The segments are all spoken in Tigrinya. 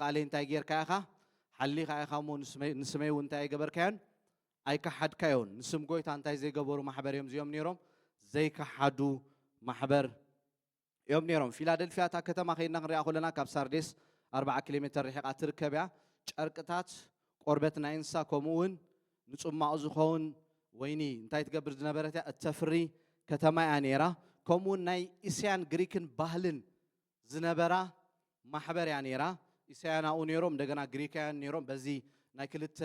ቃለይ እንታይ ጌርካ ኢኻ? ሓሊኻ ኢኻ እሞ ንስመይ ንስመይውን እንታይ ኣይገበርካዮን? ኣይከሓድካዮን። ንስም ጐይታ እንታይ ዘይገበሩ ማሕበር እዮም እዚኦም ነይሮም? ዘይከሓዱ ማሕበር እዮም ነይሮም። ፊላደልፍያ እታ ከተማ ከይድና ክንሪኣ ከለና ካብ ሳርዴስ ኣርብዓ ኪሎ ሜተር ርሒቓ ትርከብ እያ። ጨርቅታት ቆርበት ናይ እንስሳ ከምኡ እውን ንጽማቕ ዝኸውን ወይኒ እንታይ ትገብር ዝነበረት እያ? እተፍሪ ከተማ እያ ነይራ። ከምኡውን ናይ እስያን ግሪክን ባህልን ዝነበራ ማሕበር እያ ነይራ። ኢሳያን ኣብኡ ነይሮም፣ እንደገና ግሪካያን ነይሮም። በዚ ናይ ክልተ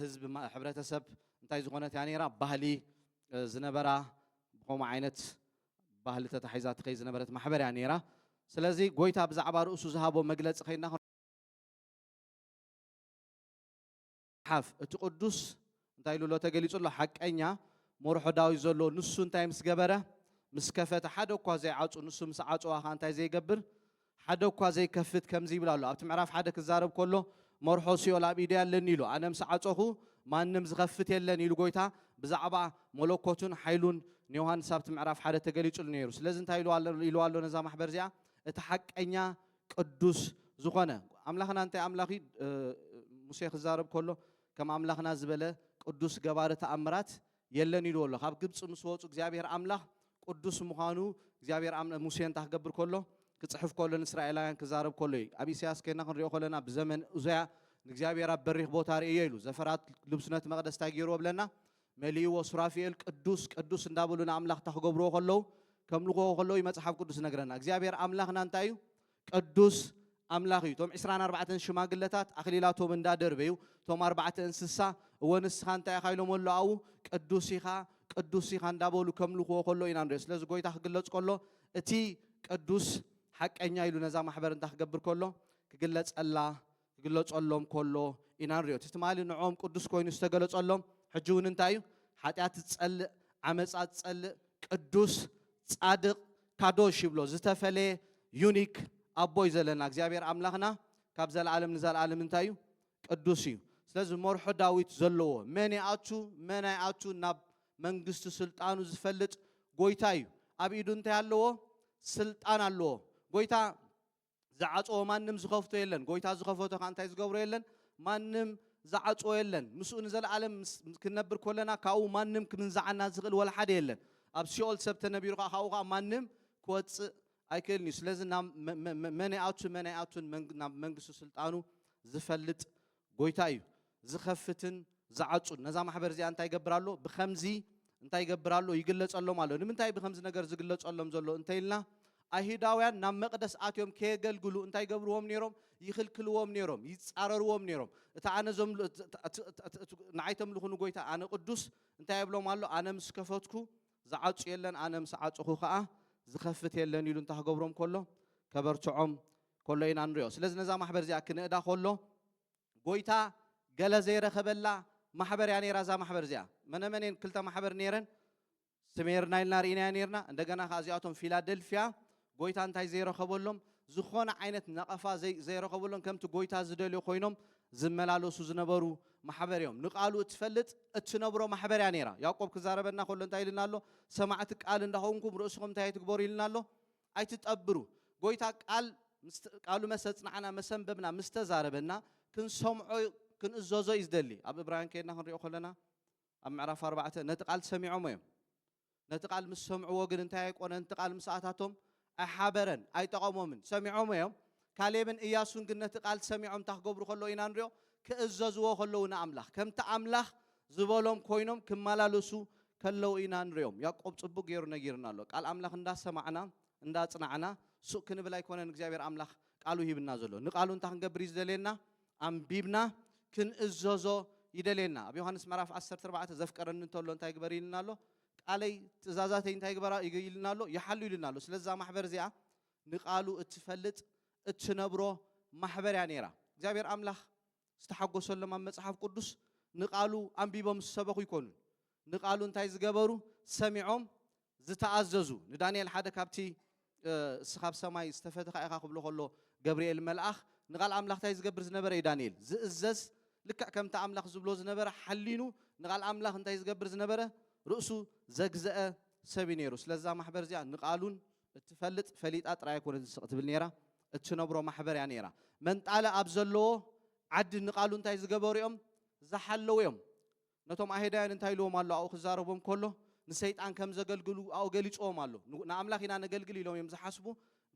ህዝቢ ሕብረተሰብ እንታይ ዝኾነት እያ ነይራ ባህሊ ዝነበራ ብከምኡ ዓይነት ባህሊ ተታሒዛ ትኸይ ዝነበረት ማሕበር እያ ነይራ። ስለዚ ጎይታ ብዛዕባ ርእሱ ዝሃቦ መግለጺ ከይና ሓፍ እቲ ቅዱስ እንታይ ኢሉ ኣሎ ተገሊጹ ኣሎ ሓቀኛ ሞርሖ ዳዊት ዘሎ ንሱ እንታይ ምስ ገበረ ምስ ከፈተ ሓደ እኳ ዘይዓጹ ንሱ ምስ ዓጽዋ ከኣ እንታይ ዘይገብር ሓደ እኳ ዘይከፍት ከምዚ ይብል ኣሎ ኣብቲ ምዕራፍ ሓደ ክዛረብ ከሎ መርሖ ሲኦል ኣብ ኢደይ ኣለኒ ኢሉ ኣነ ምስ ዓጸኹ ማንም ዝኸፍት የለን ኢሉ ጎይታ ብዛዕባ መለኮቱን ሓይሉን ንዮሃንስ ኣብቲ ምዕራፍ ሓደ ተገሊጹሉ ነይሩ ስለዚ እንታይ ኢልዋ ኣሎ ነዛ ማሕበር እዚኣ እቲ ሓቀኛ ቅዱስ ዝኾነ ኣምላኽና እንታይ ኣምላኽ እዩ ሙሴ ክዛረብ ከሎ ከም ኣምላኽና ዝበለ ቅዱስ ገባሪ ተኣምራት የለን ኢልዎ ኣሎ ካብ ግብፂ ምስ ወፁ እግዚኣብሔር ኣምላኽ ቅዱስ ምዃኑ እግዚኣብሔር ሙሴ እንታይ ክገብር ከሎ ክፅሕፍ ከሎ ንእስራኤላውያን ክዛረብ ከሎ እዩ ኣብ ኢሳያስ ከና ክንሪኦ ከለና ብዘመን እዙያ ንእግዚኣብሔር ኣብ በሪኽ ቦታ ርእዮ ኢሉ ዘፈራት ልብስነት መቅደስ እንታይ ገይርዎ ብለና መሊእዎ ሱራፊኤል ቅዱስ ቅዱስ እንዳበሉ ንኣምላኽታ ክገብርዎ ከለዉ ከምልኽዎ ከለዉ እዩ መጽሓፍ ቅዱስ ዝነግረና እግዚኣብሔር ኣምላኽና እንታይ እዩ ቅዱስ ኣምላኽ እዩ እቶም ዕስራን ኣርባዕተን ሽማግለታት ኣኽሊላቶም እንዳደርበዩ እቶም ኣርባዕተ እንስሳ እወ ንስኻ እንታይ ኢኻ ኢሎም ኣሎ ኣብኡ ቅዱስ ኢኻ ቅዱስ ኢኻ እንዳበሉ ከምልኽዎ ከሎ ኢና ንሪኦ ስለዚ ጎይታ ክግለጽ ከሎ እቲ ቅዱስ ሓቀኛ ኢሉ ነዛ ማሕበር እንታይ ክገብር ከሎ ክግለጸላ ክግለጸሎም ከሎ ኢና ንሪኦ። እቲ ትማሊ ንዕኦም ቅዱስ ኮይኑ ዝተገለጸሎም ሕጂ እውን እንታይ እዩ? ሓጢኣት ዝጸልእ፣ ዓመጻ ዝጸልእ፣ ቅዱስ፣ ጻድቕ፣ ካዶሽ ይብሎ። ዝተፈለየ ዩኒክ ኣቦ እዩ ዘለና። እግዚኣብሔር ኣምላኽና ካብ ዘለዓለም ንዘለዓለም እንታይ እዩ? ቅዱስ እዩ። ስለዚ መርሖ ዳዊት ዘለዎ መን ይኣቱ መን ኣይኣቱ ናብ መንግስቲ ስልጣኑ ዝፈልጥ ጎይታ እዩ። ኣብ ኢዱ እንታይ ኣለዎ? ስልጣን ኣለዎ። ጎይታ ዝዓጽዎ ማንም ዝኸፍቶ የለን ጎይታ ዝኸፈቶ ከኣ እንታይ ዝገብሮ የለን ማንም ዝዓጽዎ የለን ምስኡ ንዘለኣለም ክንነብር ኮለና ካብኡ ማንም ክምንዝዓና ዝኽእል ወላ ሓደ የለን ኣብ ሲኦል ሰብ ተነቢሩ ከኣ ካብኡ ከኣ ማንም ክወጽእ ኣይክእልን እዩ ስለዚ ናብ መን ይኣቱ መን ኣይኣቱን ናብ መንግስቱ ስልጣኑ ዝፈልጥ ጎይታ እዩ ዝኸፍትን ዝዓጹን። ነዛ ማሕበር እዚኣ እንታይ ይገብር ኣሎ? ብኸምዚ እንታይ ይገብር ኣሎ? ይግለጸሎም ኣሎ። ንምንታይ ብኸምዚ ነገር ዝግለጸሎም ዘሎ እንተይልና ኣይሁዳውያን ናብ መቅደስ ኣትዮም ከየገልግሉ እንታይ ገብርዎም ነይሮም? ይኽልክልዎም ነይሮም፣ ይጻረርዎም ነይሮም። እቲ ኣነ ንዓይ ተምልኹ ንጎይታ ኣነ ቅዱስ እንታይ የብሎም ኣሎ? ኣነ ምስ ከፈትኩ ዝዓጹ የለን ኣነ ምስ ዓጽኹ ከኣ ዝኸፍት የለን ኢሉ እንተ ክገብሮም ከሎ ከበርትዖም ከሎ ኢና ንሪኦ ስለዚ ነዛ ማሕበር እዚኣ ክንእዳ ከሎ ጎይታ ገለ ዘይረኸበላ ማሕበር እያ ነይራ እዛ ማሕበር እዚኣ መነመን እየን ክልተ ማሕበር ነይረን ስሜርና ኢልና ርኢናዮ ነርና እንደገና ከዓ እዚኣቶም ፊላደልፊያ ጎይታ እንታይ ዘይረኸበሎም? ዝኾነ ዓይነት ነቐፋ ዘይረኸበሎም ከምቲ ጎይታ ዝደልዮ ኮይኖም ዝመላለሱ ዝነበሩ ማሕበር እዮም። ንቃሉ እትፈልጥ እትነብሮ ማሕበር እያ ነይራ። ያዕቆብ ክዛረበና ከሎ እንታይ ኢልና ኣሎ? ሰማዕቲ ቃል እንዳኾንኩም ርእስኹም እንታይ ኣይትግበሩ ኢልና ኣሎ? ኣይትጠብሩ። ጎይታ ቃል ቃሉ መሰ ኣጽናዕና መሰ ኣንበብና ምስ ተዛረበና ክንሰምዖ ክንእዘዞ እዩ ዝደሊ። ኣብ እብራውያን ከይድና ክንሪኦ ከለና ኣብ ምዕራፍ ኣርባዕተ ነቲ ቃል ሰሚዖሞ እዮም። ነቲ ቃል ምስ ሰምዕዎ ግን እንታይ ኣይቆነን ነቲ ቃል ምስ ኣታቶም ኣይሓበረን ኣይጠቐሞምን ሰሚዖሞ እዮም ካሌብን እያሱን ግን ነቲ ቃል ሰሚዖም እንታይ ክገብሩ ከለዉ ኢና ንሪኦ ክእዘዝዎ ከለዉ ንኣምላኽ ከምቲ ኣምላኽ ዝበሎም ኮይኖም ክመላለሱ ከለዉ ኢና ንሪኦም ያቆብ ጽቡቅ ገይሩ ነጊርና ኣሎ ቃል ኣምላኽ እንዳሰማዕና እንዳጽናዕና ሱቅ ክንብል ኣይኮነን እግዚኣብሔር ኣምላኽ ቃሉ ሂብና ዘሎ ንቃሉ እንታይ ክንገብር እዩ ዝደልየና ኣንቢብና ክንእዘዞ ይደልየና። ኣብ ዮሃንስ ምዕራፍ ዓሰርተ ኣርባዕተ ዘፍቀረኒ እንተሎ እንታይ ግበሪ ኢልና ኣሎ? ቃለይ ትእዛዛተይ እንታይ ግበራ ኢልና ኣሎ? ይሓሉ ኢልና ኣሎ። ስለዚ እዛ ማሕበር እዚኣ ንቃሉ እትፈልጥ እትነብሮ ማሕበር እያ ነይራ። እግዚኣብሔር ኣምላኽ ዝተሓጎሰሎም ኣብ መጽሓፍ ቅዱስ ንቃሉ ኣንቢቦም ዝሰበኹ ኣይኮኑን። ንቃሉ እንታይ ዝገበሩ ሰሚዖም ዝተኣዘዙ ንዳንኤል ሓደ ካብቲ እስኻ ኣብ ሰማይ ዝተፈትኻ ኢኻ ክብሎ ከሎ ገብርኤል መልኣኽ ንቓል ኣምላኽ እንታይ ዝገብር ዝነበረ እዩ ዳንኤል ዝእዘዝ ልክዕ ከምቲ ኣምላኽ ዝብሎ ዝነበረ ሓሊኑ ንቓል ኣምላኽ እንታይ ዝገብር ዝነበረ ርእሱ ዘግዘአ ሰብ እዩ ነይሩ ስለዛ ማሕበር እዚኣ ንቓሉን እትፈልጥ ፈሊጣ ጥራይ ኣይኮነት ንስቕ ትብል ነይራ እትነብሮ ማሕበር እያ ነይራ መንጣለ ኣብ ዘለዎ ዓዲ ንቓሉ እንታይ ዝገበሩ እዮም ዝሓለዉ እዮም ነቶም ኣሄዳያን እንታይ ኢልዎም ኣሎ ኣብኡ ክዛረቦም ከሎ ንሰይጣን ከም ዘገልግሉ ኣብኡ ገሊጽዎም ኣሎ ንኣምላኽ ኢና ነገልግል ኢሎም እዮም ዝሓስቡ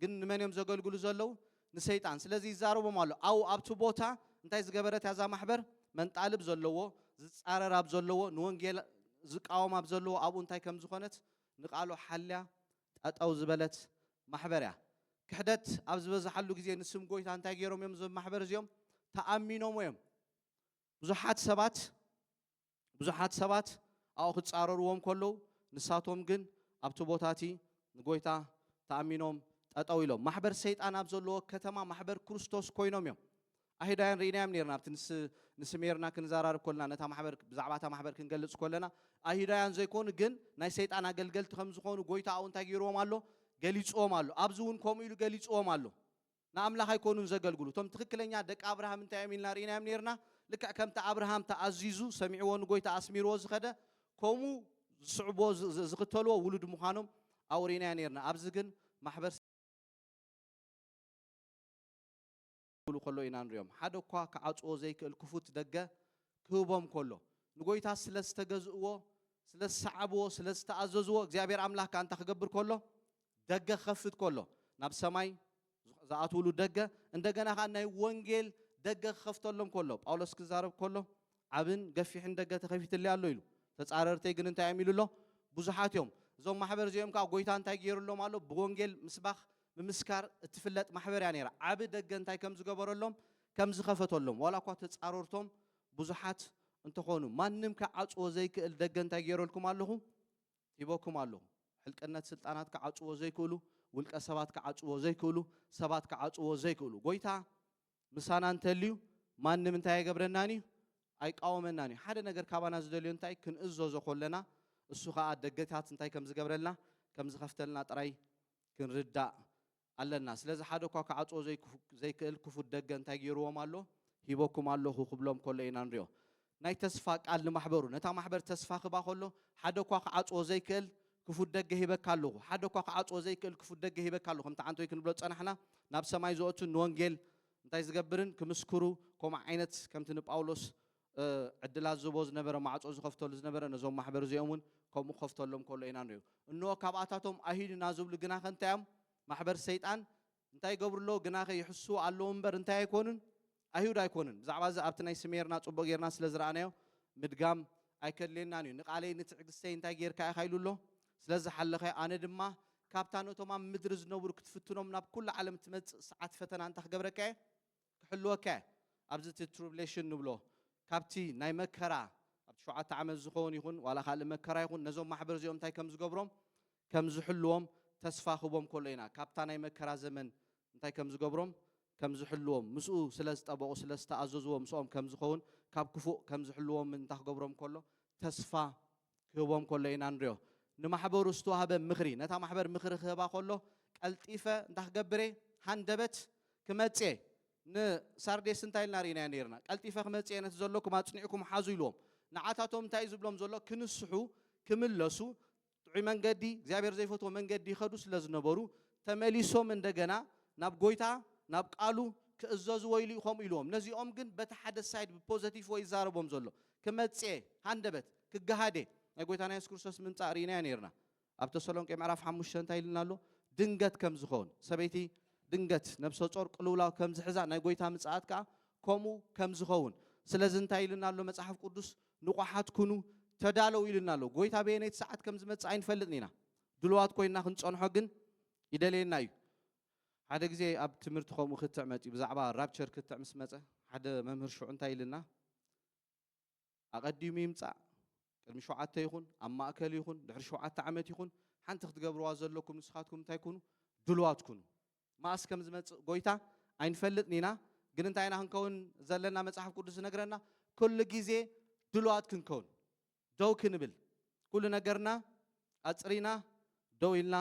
ግን ንመን እዮም ዘገልግሉ ዘለዉ ንሰይጣን ስለዚ ይዛረቦም ኣሎ ኣብኡ ኣብቲ ቦታ እንታይ ዝገበረት እያ እዛ ማሕበር መንጣልብ ዘለዎ ዝጻረር ኣብ ዘለዎ ንወንጌል ዝቃወም ኣብ ዘለዎ ኣብኡ እንታይ ከም ዝኾነት ንቃሉ ሓልያ ጠጠው ዝበለት ማሕበር እያ ክሕደት ኣብ ዝበዝሓሉ ግዜ ንስም ጎይታ እንታይ ገይሮም እዮም እዞም ማሕበር እዚኦም ተኣሚኖሞ እዮም ብዙሓት ሰባት ብዙሓት ሰባት ኣብኡ ክጻረርዎም ከለዉ ንሳቶም ግን ኣብቲ ቦታ እቲ ንጎይታ ተኣሚኖም ጠጠው ኢሎም ማሕበር ሰይጣን ኣብ ዘለዎ ከተማ ማሕበር ክርስቶስ ኮይኖም እዮም ኣይሁዳውያን ርኢናዮም ነርና ኣብቲ ንስሜርና ክንዘራርብ ኮለና ነታ ማሕበር ብዛዕባ እታ ማሕበር ክንገልጽ ኮለና ኣይሁዳውያን ዘይኮኑ ግን ናይ ሰይጣን ኣገልገልቲ ከም ዝኾኑ ጎይታ ኣብኡ እንታይ ገይርዎም ኣሎ ገሊጽዎም ኣሎ ኣብዚ እውን ከምኡ ኢሉ ገሊጽዎም ኣሎ ንኣምላኽ ኣይኰኑን ዘገልግሉ። እቶም ትኽክለኛ ደቂ ኣብርሃም እንታይ እዮም ኢልና ርኢናዮም ኔርና? ልክዕ ከምቲ ኣብርሃም ተኣዚዙ፣ ሰሚዕዎ ንጐይታ ኣስሚርዎ ዝኸደ፣ ከምኡ ዝስዕብዎ፣ ዝኽተልዎ ውሉድ ምዃኖም ኣብኡ ርኢናዮ ኔርና። ኣብዚ ግን ማሕበር። ክብሉ ከለዉ ኢና ንርእዮም። ሓደ እኳ ክዓጽዎ ዘይክእል ክፉት ደገ ክህቦም ከሎ። ንጐይታ ስለ ዝተገዝእዎ፣ ስለ ዝሰዓብዎ፣ ስለ ዝተኣዘዝዎ፣ እግዚኣብሔር ኣምላኽ ከኣ እንታይ ክገብር ከሎ? ደገ ክኸፍት ከሎ፣ ናብ ሰማይ ዝኣትዉሉ ደገ፣ እንደገና ኸኣ ናይ ወንጌል ደገ ክኸፍተሎም ከሎ፣ ጳውሎስ ክዛረብ ከሎ፣ ዓብን ገፊሕን ደገ ተኸፊትለይ ኣሎ ኢሉ። ተጻረርተይ ግን እንታይ እዮም ኢሉ ኣሎ? ብዙሓት እዮም። እዞም ማሕበር እዚኦም ከኣ ጎይታ እንታይ ገይሩሎም ኣሎ? ብወንጌል ምስባኽ ምምስካር እትፍለጥ ማሕበር እያ ነይራ። ዓቢ ደገ እንታይ ከም ዝገበረሎም፣ ከም ዝኸፈተሎም፣ ዋላ እኳ ተጻረርቶም ብዙሓት እንተኾኑ፣ ማንም ክዓጽዎ ዘይክእል ደገ እንታይ ገይረልኩም ኣለኹ? ሂቦኩም ኣለዉ። ሕልቅነት ስልጣናት ክዓጽዎ ዘይክእሉ፣ ውልቀ ሰባት ክዓጽዎ ዘይክእሉ፣ ሰባት ክዓጽዎ ዘይክእሉ። ጎይታ ምሳና እንተልዩ ማንም እንታይ ኣይገብረናን እዩ? ኣይቃወመናን እዩ። ሓደ ነገር ካባና ዝደልዮ እንታይ ክንእዘዞ ኮለና እሱ ከኣ ደገታት እንታይ ከም ዝገብረልና ከም ዝኸፍተልና ጥራይ ክንርዳእ ኣለና ስለዚ ሓደ እኳ ክዓጽዎ ዘይክእል ክፉት ደገ እንታይ ገይርዎም ኣሎ ሂበኩም ኣለኹ ክብሎም ከሎ ኢና ንሪኦ። ናይ ተስፋ ቃል ንማሕበሩ ነታ ማሕበር ተስፋ ክባ ከሎ ሓደ እኳ ክዓጽዎ ዘይክእል ክፉት ደገ ሂበካ ኣለኹ ሓደ እኳ ክዓጽዎ ዘይክእል ክፉት ደገ ሂበካ ኣለኹ ከምቲ ዓንተወይ ክንብሎ ዝጸናሕና ናብ ሰማይ ዝወእቱን ንወንጌል እንታይ ዝገብርን ክምስክሩ ከምኡ ዓይነት ከምቲ ንጳውሎስ ዕድላት ዝህቦ ዝነበረ ማዕጾ ዝኸፍተሉ ዝነበረ ነዞም ማሕበር እዚኦም እውን ከምኡ ክኸፍተሎም ከሎ ኢና ንሪኦ። እንሆ ካብኣታቶም ኣይሂዱ ኢና ዝብሉ ግናኸ እንታይ እዮም? ማሕበር ሰይጣን እንታይ ይገብሩ ኣለዉ? ግናኸ ይሕስዉ ኣለዉ እምበር እንታይ ኣይኮኑን? ኣይሁድ ኣይኮኑን። ብዛዕባ እዚ ኣብቲ ናይ ስሜርና ጽቡቕ ጌርና ስለ ዝረኣናዮ ምድጋም ኣይከድልየናን እዩ። ንቓለይ ንትዕግስተይ እንታይ ጌርካ ኢኻ ኢሉ ኣሎ? ስለ ዝሓለኻዮ ኣነ ድማ ካብታ ነቶም ኣብ ምድሪ ዝነብሩ ክትፍትኖም ናብ ኵሉ ዓለም እትመጽእ ሰዓት ፈተና እንታይ ክገብረካ እየ? ክሕልወካ እየ ኣብዚ እቲ ትሩብሌሽን ንብሎ ካብቲ ናይ መከራ ኣብ ሸውዓተ ዓመት ዝኸውን ይኹን ዋላ ካልእ መከራ ይኹን ነዞም ማሕበር እዚኦም እንታይ ከም ዝገብሮም ከም ዝሕልዎም ተስፋ ክቦም ከሎ ኢና ካብታ ናይ መከራ ዘመን እንታይ ከም ዝገብሮም ከም ዝሕልዎም ምስኡ ስለ ዝጠበቑ ስለ ዝተኣዘዝዎ ምስኦም ከም ዝኸውን ካብ ክፉእ ከም ዝሕልዎም እንታይ ክገብሮም ከሎ ተስፋ ክህቦም ከሎ ኢና ንሪኦ። ንማሕበሩ ዝተዋህበ ምኽሪ፣ ነታ ማሕበር ምኽሪ ክህባ ከሎ ቀልጢፈ እንታይ ክገብር እየ? ሃንደበት ክመጽእ እየ። ንሳርዴስ እንታይ ኢልና ርኢናዮ ነይርና? ቀልጢፈ ክመጽእ እየ ነቲ ዘሎኩም ኣጽኒዕኩም ሓዙ ኢልዎም። ንዓታቶም እንታይ እዩ ዝብሎም ዘሎ? ክንስሑ፣ ክምለሱ፣ ጥዑይ መንገዲ፣ እግዚኣብሄር ዘይፈትዎ መንገዲ ይኸዱ ስለ ዝነበሩ፣ ተመሊሶም እንደገና ናብ ጎይታ፣ ናብ ቃሉ፣ ክእዘዙ ወይሉ እዩ ከምኡ ኢልዎም። ነዚኦም ግን በቲ ሓደ ሳይድ ብፖዘቲፍ ወይ ይዛረቦም ዘሎ። ክመጽእ'የ፣ ሃንደበት ክገሃድ'የ። ናይ ጐይታና የሱስ ክርስቶስ ምምጻእ ርኢናዮ ኔርና። ኣብ ተሰሎንቄ ምዕራፍ ሓሙሽተ እንታይ ኢሉና ኣሎ? ድንገት ከም ዝኸውን፣ ሰበይቲ ድንገት ነብሰጾር ቅልውላው ከም ዝሕዛ፣ ናይ ጐይታ ምጽኣት ከኣ ከምኡ ከም ዝኸውን። ስለዚ እንታይ ኢሉና ኣሎ መጽሓፍ ቅዱስ? ንቑሓት ኩኑ፣ ተዳለዉ ኢሉና ኣሎ። ጐይታ በየነይቲ ሰዓት ከም ዝመጽእ ኣይንፈልጥን ኢና። ድሉዋት ኰይንና ክንጸንሖ ግን ይደልየና እዩ። ሓደ ግዜ ኣብ ትምህርቲ ከምኡ ክትዕ መጺኡ ብዛዕባ ራፕቸር ክትዕ ምስ መጸ ሓደ መምህር ሽዑ እንታይ ኢልና ኣቐዲሙ ይምጻእ ቅድሚ ሸውዓተ ይኹን ኣብ ማእከል ይኹን ድሕሪ ሸውዓተ ዓመት ይኹን ሓንቲ ክትገብርዋ ዘለኩም ንስኻትኩም እንታይ ኩኑ ድልዋት ኩኑ ማእስ ከም ዝመጽእ ጎይታ ኣይንፈልጥን ኢና ግን እንታይ ኢና ክንከውን ዘለና መጽሓፍ ቅዱስ ዝነግረና ኩሉ ግዜ ድልዋት ክንከውን ደው ክንብል ኩሉ ነገርና ኣጽሪና ደው ኢልና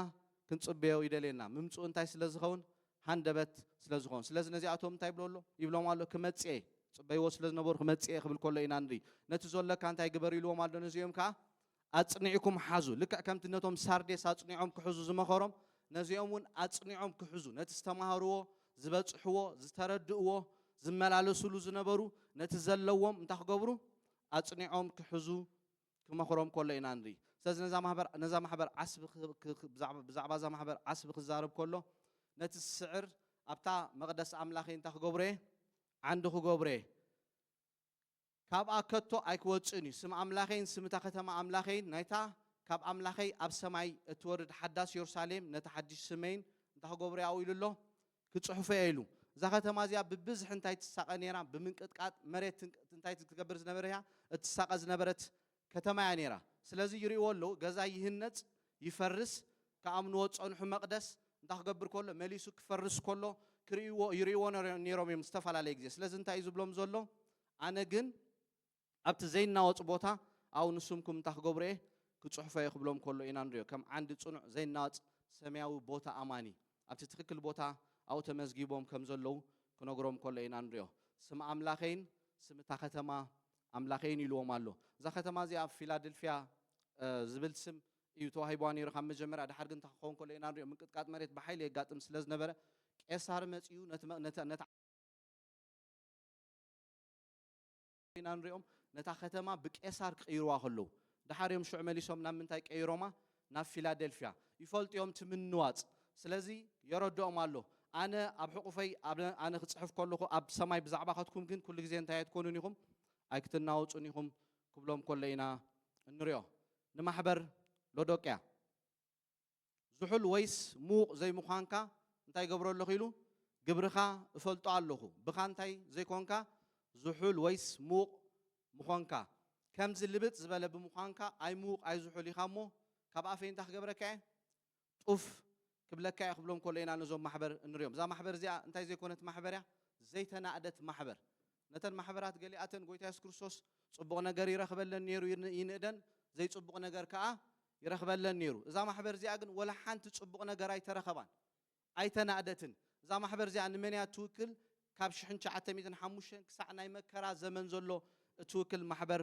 ክንጽበዮ ይደልየና ምምጽኡ እንታይ ስለ ዝኸውን ሃንደበት ስለ ዝኸውን ስለዚ ነዚኣቶም እንታይ ይብሎ ኣሎ ይብሎም ኣሎ ክመጽእ እየ ጽበይዎ ስለ ዝነበሩ ክመጽእ እየ ክብል ከሎ ኢና ንርኢ ነቲ ዘለካ እንታይ ግበር ኢልዎም ኣሎ ነዚኦም ከዓ ኣጽኒዕኩም ሓዙ ልክዕ ከምቲ ነቶም ሳርዴስ ኣጽኒዖም ክሕዙ ዝመኸሮም ነዚኦም እውን ኣጽኒዖም ክሕዙ ነቲ ዝተማሃርዎ ዝበጽሕዎ ዝተረድእዎ ዝመላለስሉ ዝነበሩ ነቲ ዘለዎም እንታይ ክገብሩ ኣጽኒዖም ክሕዙ ክመኽሮም ከሎ ኢና ንርኢ። ስለዚ ነዛ ማህበር ነዛ ማሕበር ዓስቢ ብዛዕባ እዛ ማሕበር ዓስቢ ክዛረብ ከሎ ነቲ ዝስዕር ኣብታ መቕደስ ኣምላኸይ እንታይ ክገብሮ እየ ዓንዲ ክገብሮ እየ ካብኣ ከቶ ኣይክወጽእን እዩ ስም ኣምላኸይን ስም እታ ከተማ ኣምላኸይን ናይታ ካብ ኣምላኸይ ኣብ ሰማይ እትወርድ ሓዳስ የሩሳሌም ነቲ ሓድሽ ስመይን እንታይ ክገብሮ እየ ኣብኡ ኢሉ ኣሎ ክጽሕፎ እየ ኢሉ። እዛ ከተማ እዚኣ ብብዝሒ እንታይ ትሳቐ ነይራ? ብምንቅጥቃጥ መሬት እንታይ ትገብር ዝነበረ እያ? እትሳቐ ዝነበረት ከተማ እያ ነይራ። ስለዚ ይርእይዎ ኣለዉ፣ ገዛ ይህነጽ፣ ይፈርስ፣ ክኣምንዎ ዝጸንሑ መቕደስ እንታይ ክገብር ከሎ? መሊሱ ክፈርስ ከሎ ክርእይዎ፣ ይርእይዎ ነይሮም እዮም ዝተፈላለየ ግዜ። ስለዚ እንታይ እዩ ዝብሎም ዘሎ? ኣነ ግን ኣብቲ ዘይናወጽ ቦታ ኣብኡ ንስምኩም እንታ ክገብሮ እየ ክጽሕፎ እየ ክብሎም ከሎ ኢና ንሪኦ ከም ዓንዲ ጽኑዕ ዘይናወጽ ሰምያዊ ቦታ ኣማኒ ኣብቲ ትክክል ቦታ ኣብኡ ተመዝጊቦም ከም ዘለዉ ክነግሮም ከሎ ኢና ንሪኦ ስም ኣምላኸይን ስም እታ ከተማ ኣምላኸይን ኢልዎም ኣሎ እዛ ከተማ እዚኣ ፊላድልፍያ ዝብል ስም እዩ ተዋሂብዋ ነይሩ ካብ መጀመርያ ድሓር ግን እንታይ ክኸውን ከሎ ኢና ንሪኦ ምንቅጥቃጥ መሬት ብሓይሊ የጋጥም ስለ ዝነበረ ቄሳር መጺኡ ነቲ ኢና ንሪኦም ነታ ከተማ ብቄሳር ክቅይርዋ ከለዉ ደሓር እዮም ሽዑ መሊሶም ናብ ምንታይ ቀይሮማ ናብ ፊላደልፍያ ይፈልጡ እዮም እቲ ምንዋጽ ስለዚ የረድኦም ኣሎ ኣነ ኣብ ሕቁፈይ ኣነ ክጽሕፍ ከለኩ ኣብ ሰማይ ብዛዕባከትኩም ግን ኩሉ ግዜ እንታይ ኣይትኮኑን ኢኩም ኣይክትናወጹን ኢኩም ክብሎም ከሎ ኢና እንሪኦ ንማሕበር ሎዶቅያ ዝሑል ወይስ ምዉቕ ዘይምዃንካ እንታይ እገብሮ ኣለኹ ኢሉ? ግብርኻ እፈልጦ ኣለኹ። ብኻ እንታይ ዘይኮንካ ዝሑል ወይስ ምዉቕ ምኾንካ። ከምዚ ልብጥ ዝበለ ብምዃንካ ኣይ ምዉቕ ኣይ ዝሑል ኢኻ እሞ ካብ ኣፈይ እንታይ ክገብረካ እየ? ጡፍ ክብለካ እየ ክብሎም ከሎ ኢና ነዞም ማሕበር እንሪኦም። እዛ ማሕበር እዚኣ እንታይ ዘይኮነት ማሕበር እያ? ዘይተናእደት ማሕበር። ነተን ማሕበራት ገሊኣተን ጎይታ የሱስ ክርስቶስ ጽቡቕ ነገር ይረኽበለን ነይሩ ይንእደን ዘይጽቡቕ ነገር ከኣ ይረኽበለን ነይሩ። እዛ ማሕበር እዚኣ ግን ወላ ሓንቲ ጽቡቕ ነገር ኣይተረኸባን ኣይተናእደትን። እዛ ማሕበር እዚኣ ንመን እያ እትውክል? ካብ ሽሕን ትሽዓተ ሚእትን ሓሙሽተን ክሳዕ ናይ መከራ ዘመን ዘሎ እትውክል ማሕበር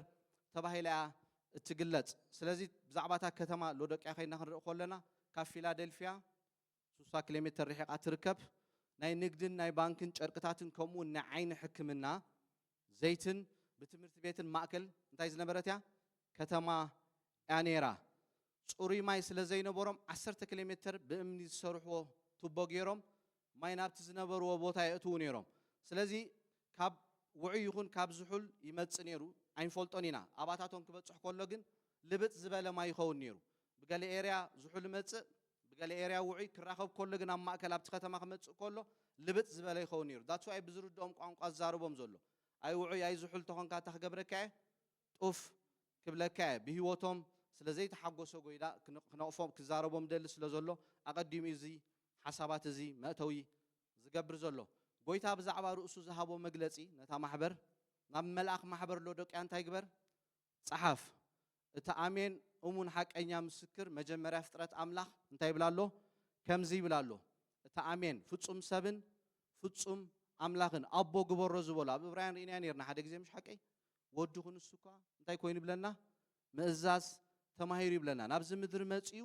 ተባሂላ እያ እትግለጽ። ስለዚ ብዛዕባ እታ ከተማ ሎዶቅያ ከይድና ክንርኢ ከሎና ካብ ፊላደልፍያ ሱሳ ኪሎሜተር ርሒቓ ትርከብ ናይ ንግድን ናይ ባንክን ጨርቅታትን ከምኡውን ናይ ዓይኒ ሕክምና ዘይትን ብትምህርቲ ቤትን ማእከል እንታይ ዝነበረት እያ ከተማ እያ ነይራ። ጽሩይ ማይ ስለ ዘይነበሮም ዓሰርተ ኪሎሜተር ብእምኒ ዝሰርሕዎ ቱቦ ገይሮም ማይ ናብቲ ዝነበርዎ ቦታ የእትዉ ነይሮም። ስለዚ ካብ ውዑይ ይኹን ካብ ዝሑል ይመጽእ ነይሩ ኣይንፈልጦን ኢና። ኣባታቶም ክበጽሕ ከሎ ግን ልብጥ ዝበለ ማይ ይኸውን ነይሩ። ብገለ ኤርያ ዝሑል እመጽእ ብገለ ኤርያ ውዑይ ክራኸብ ከሎ ግን ኣብ ማእከል ኣብቲ ከተማ ክመጽእ ከሎ ልብጥ ዝበለ ይኸውን ነይሩ that's why ብዝርድኦም ቋንቋ ዝዛረቦም ዘሎ ኣይ ውዑይ ኣይ ዝሑል ተኾንካ እታ ክገብረካ እየ ጡፍ ክብለካ እየ ብሂወቶም ስለ ዘይተሓጎሰ ጎይላ ክነቕፎም ክዛረቦም ይደሊ ስለ ዘሎ ኣቐዲሙ እዩ እዚ ሓሳባት እዚ መእተዊ ዝገብር ዘሎ ጎይታ ብዛዕባ ርእሱ ዝሃቦ መግለጺ ነታ ማሕበር ናብ መልኣኽ ማሕበር ሎዶቅያ እንታይ ግበር ጸሓፍ። እቲ ኣሜን እሙን ሓቀኛ ምስክር መጀመርያ ፍጥረት ኣምላኽ እንታይ ይብል ኣሎ? ከምዚ ይብል ኣሎ እቲ ኣሜን ፍጹም ሰብን ፍጹም ኣምላኽን ኣቦ ግበሮ ዝበሎ ኣብ እብራውያን ርኢናዮ ኔርና ሓደ ግዜ ምሽ ሓቀይ ወዱ ክንሱ እኳ እንታይ ኮይኑ ይብለና ምእዛዝ ተማሂሩ ይብለና ናብዚ ምድሪ መጺኡ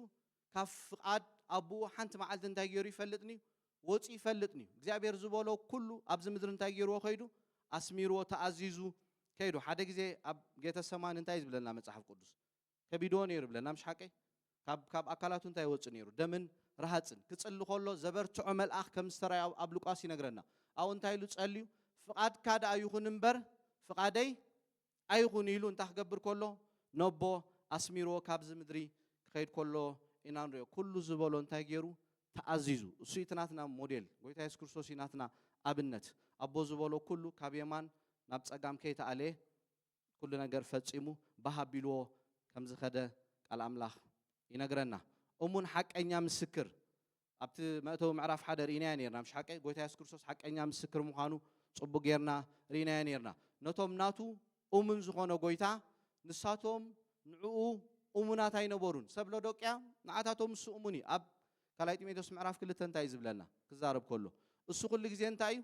ካብ ፍቃድ ኣቡኡ ሓንቲ መዓልቲ እንታይ ገይሩ ይፈልጥ ንዩ ወጽዩ ይፈልጥ ንዩ እግዚኣብሔር ዝበሎ ኩሉ ኣብዚ ምድሪ እንታይ ገይርዎ ከይዱ ኣስሚርዎ ተኣዚዙ ከይዱ ሓደ ግዜ ኣብ ጌተሰማኒ እንታይ ዝብለና መጽሓፍ ቅዱስ ከቢድዎ ነይሩ ይብለና ምሽ ሓቀይ ካብ ካብ ኣካላቱ እንታይ ይወጽእ ነይሩ ደምን ረሃጽን ክጽሊ ከሎ ዘበርትዖ መልኣኽ ከም ዝተራዮ ኣብ ሉቃስ ይነግረና ኣብኡ እንታይ ኢሉ ጸልዩ ፍቃድካ ደኣ ይኹን እምበር ፍቃደይ ኣይኹን ኢሉ እንታይ ክገብር ከሎ ነቦ ኣስሚርዎ ካብዚ ምድሪ ክኸይድ ከሎ ኢና ንሪኦ ኩሉ ዝበሎ እንታይ ገይሩ ተኣዚዙ እሱ እቲ ናትና ሞዴል ጎይታ የሱስ ክርስቶስ እዩ ናትና ኣብነት ኣቦ ዝበሎ ኩሉ ካብ የማን ናብ ጸጋም ከይተኣለየ ኩሉ ነገር ፈጺሙ ባህ ኣቢልዎ ከም ዝኸደ ቃል ኣምላኽ ይነግረና እሙን ሓቀኛ ምስክር ኣብቲ መእተዊ ምዕራፍ ሓደ ርኢናዮ ኔርና ምሽ ሓቀይ ጎይታ የሱስ ክርስቶስ ሓቀኛ ምስክር ምዃኑ ጽቡቅ ጌርና ርኢናዮ ኔርና ነቶም ናቱ ኡሙን ዝኾኖ ጎይታ ንሳቶም ንዕኡ ኡሙናት ኣይነበሩን ሰብ ሎዶቅያ ንዓታቶም እሱ ኡሙን እዩ ኣብ ካልኣይ ጢሞቴዎስ ምዕራፍ ክልተ እንታይ እዩ ዝብለና ክዛረብ ከሎ እሱ ኩሉ ግዜ እንታይ እዩ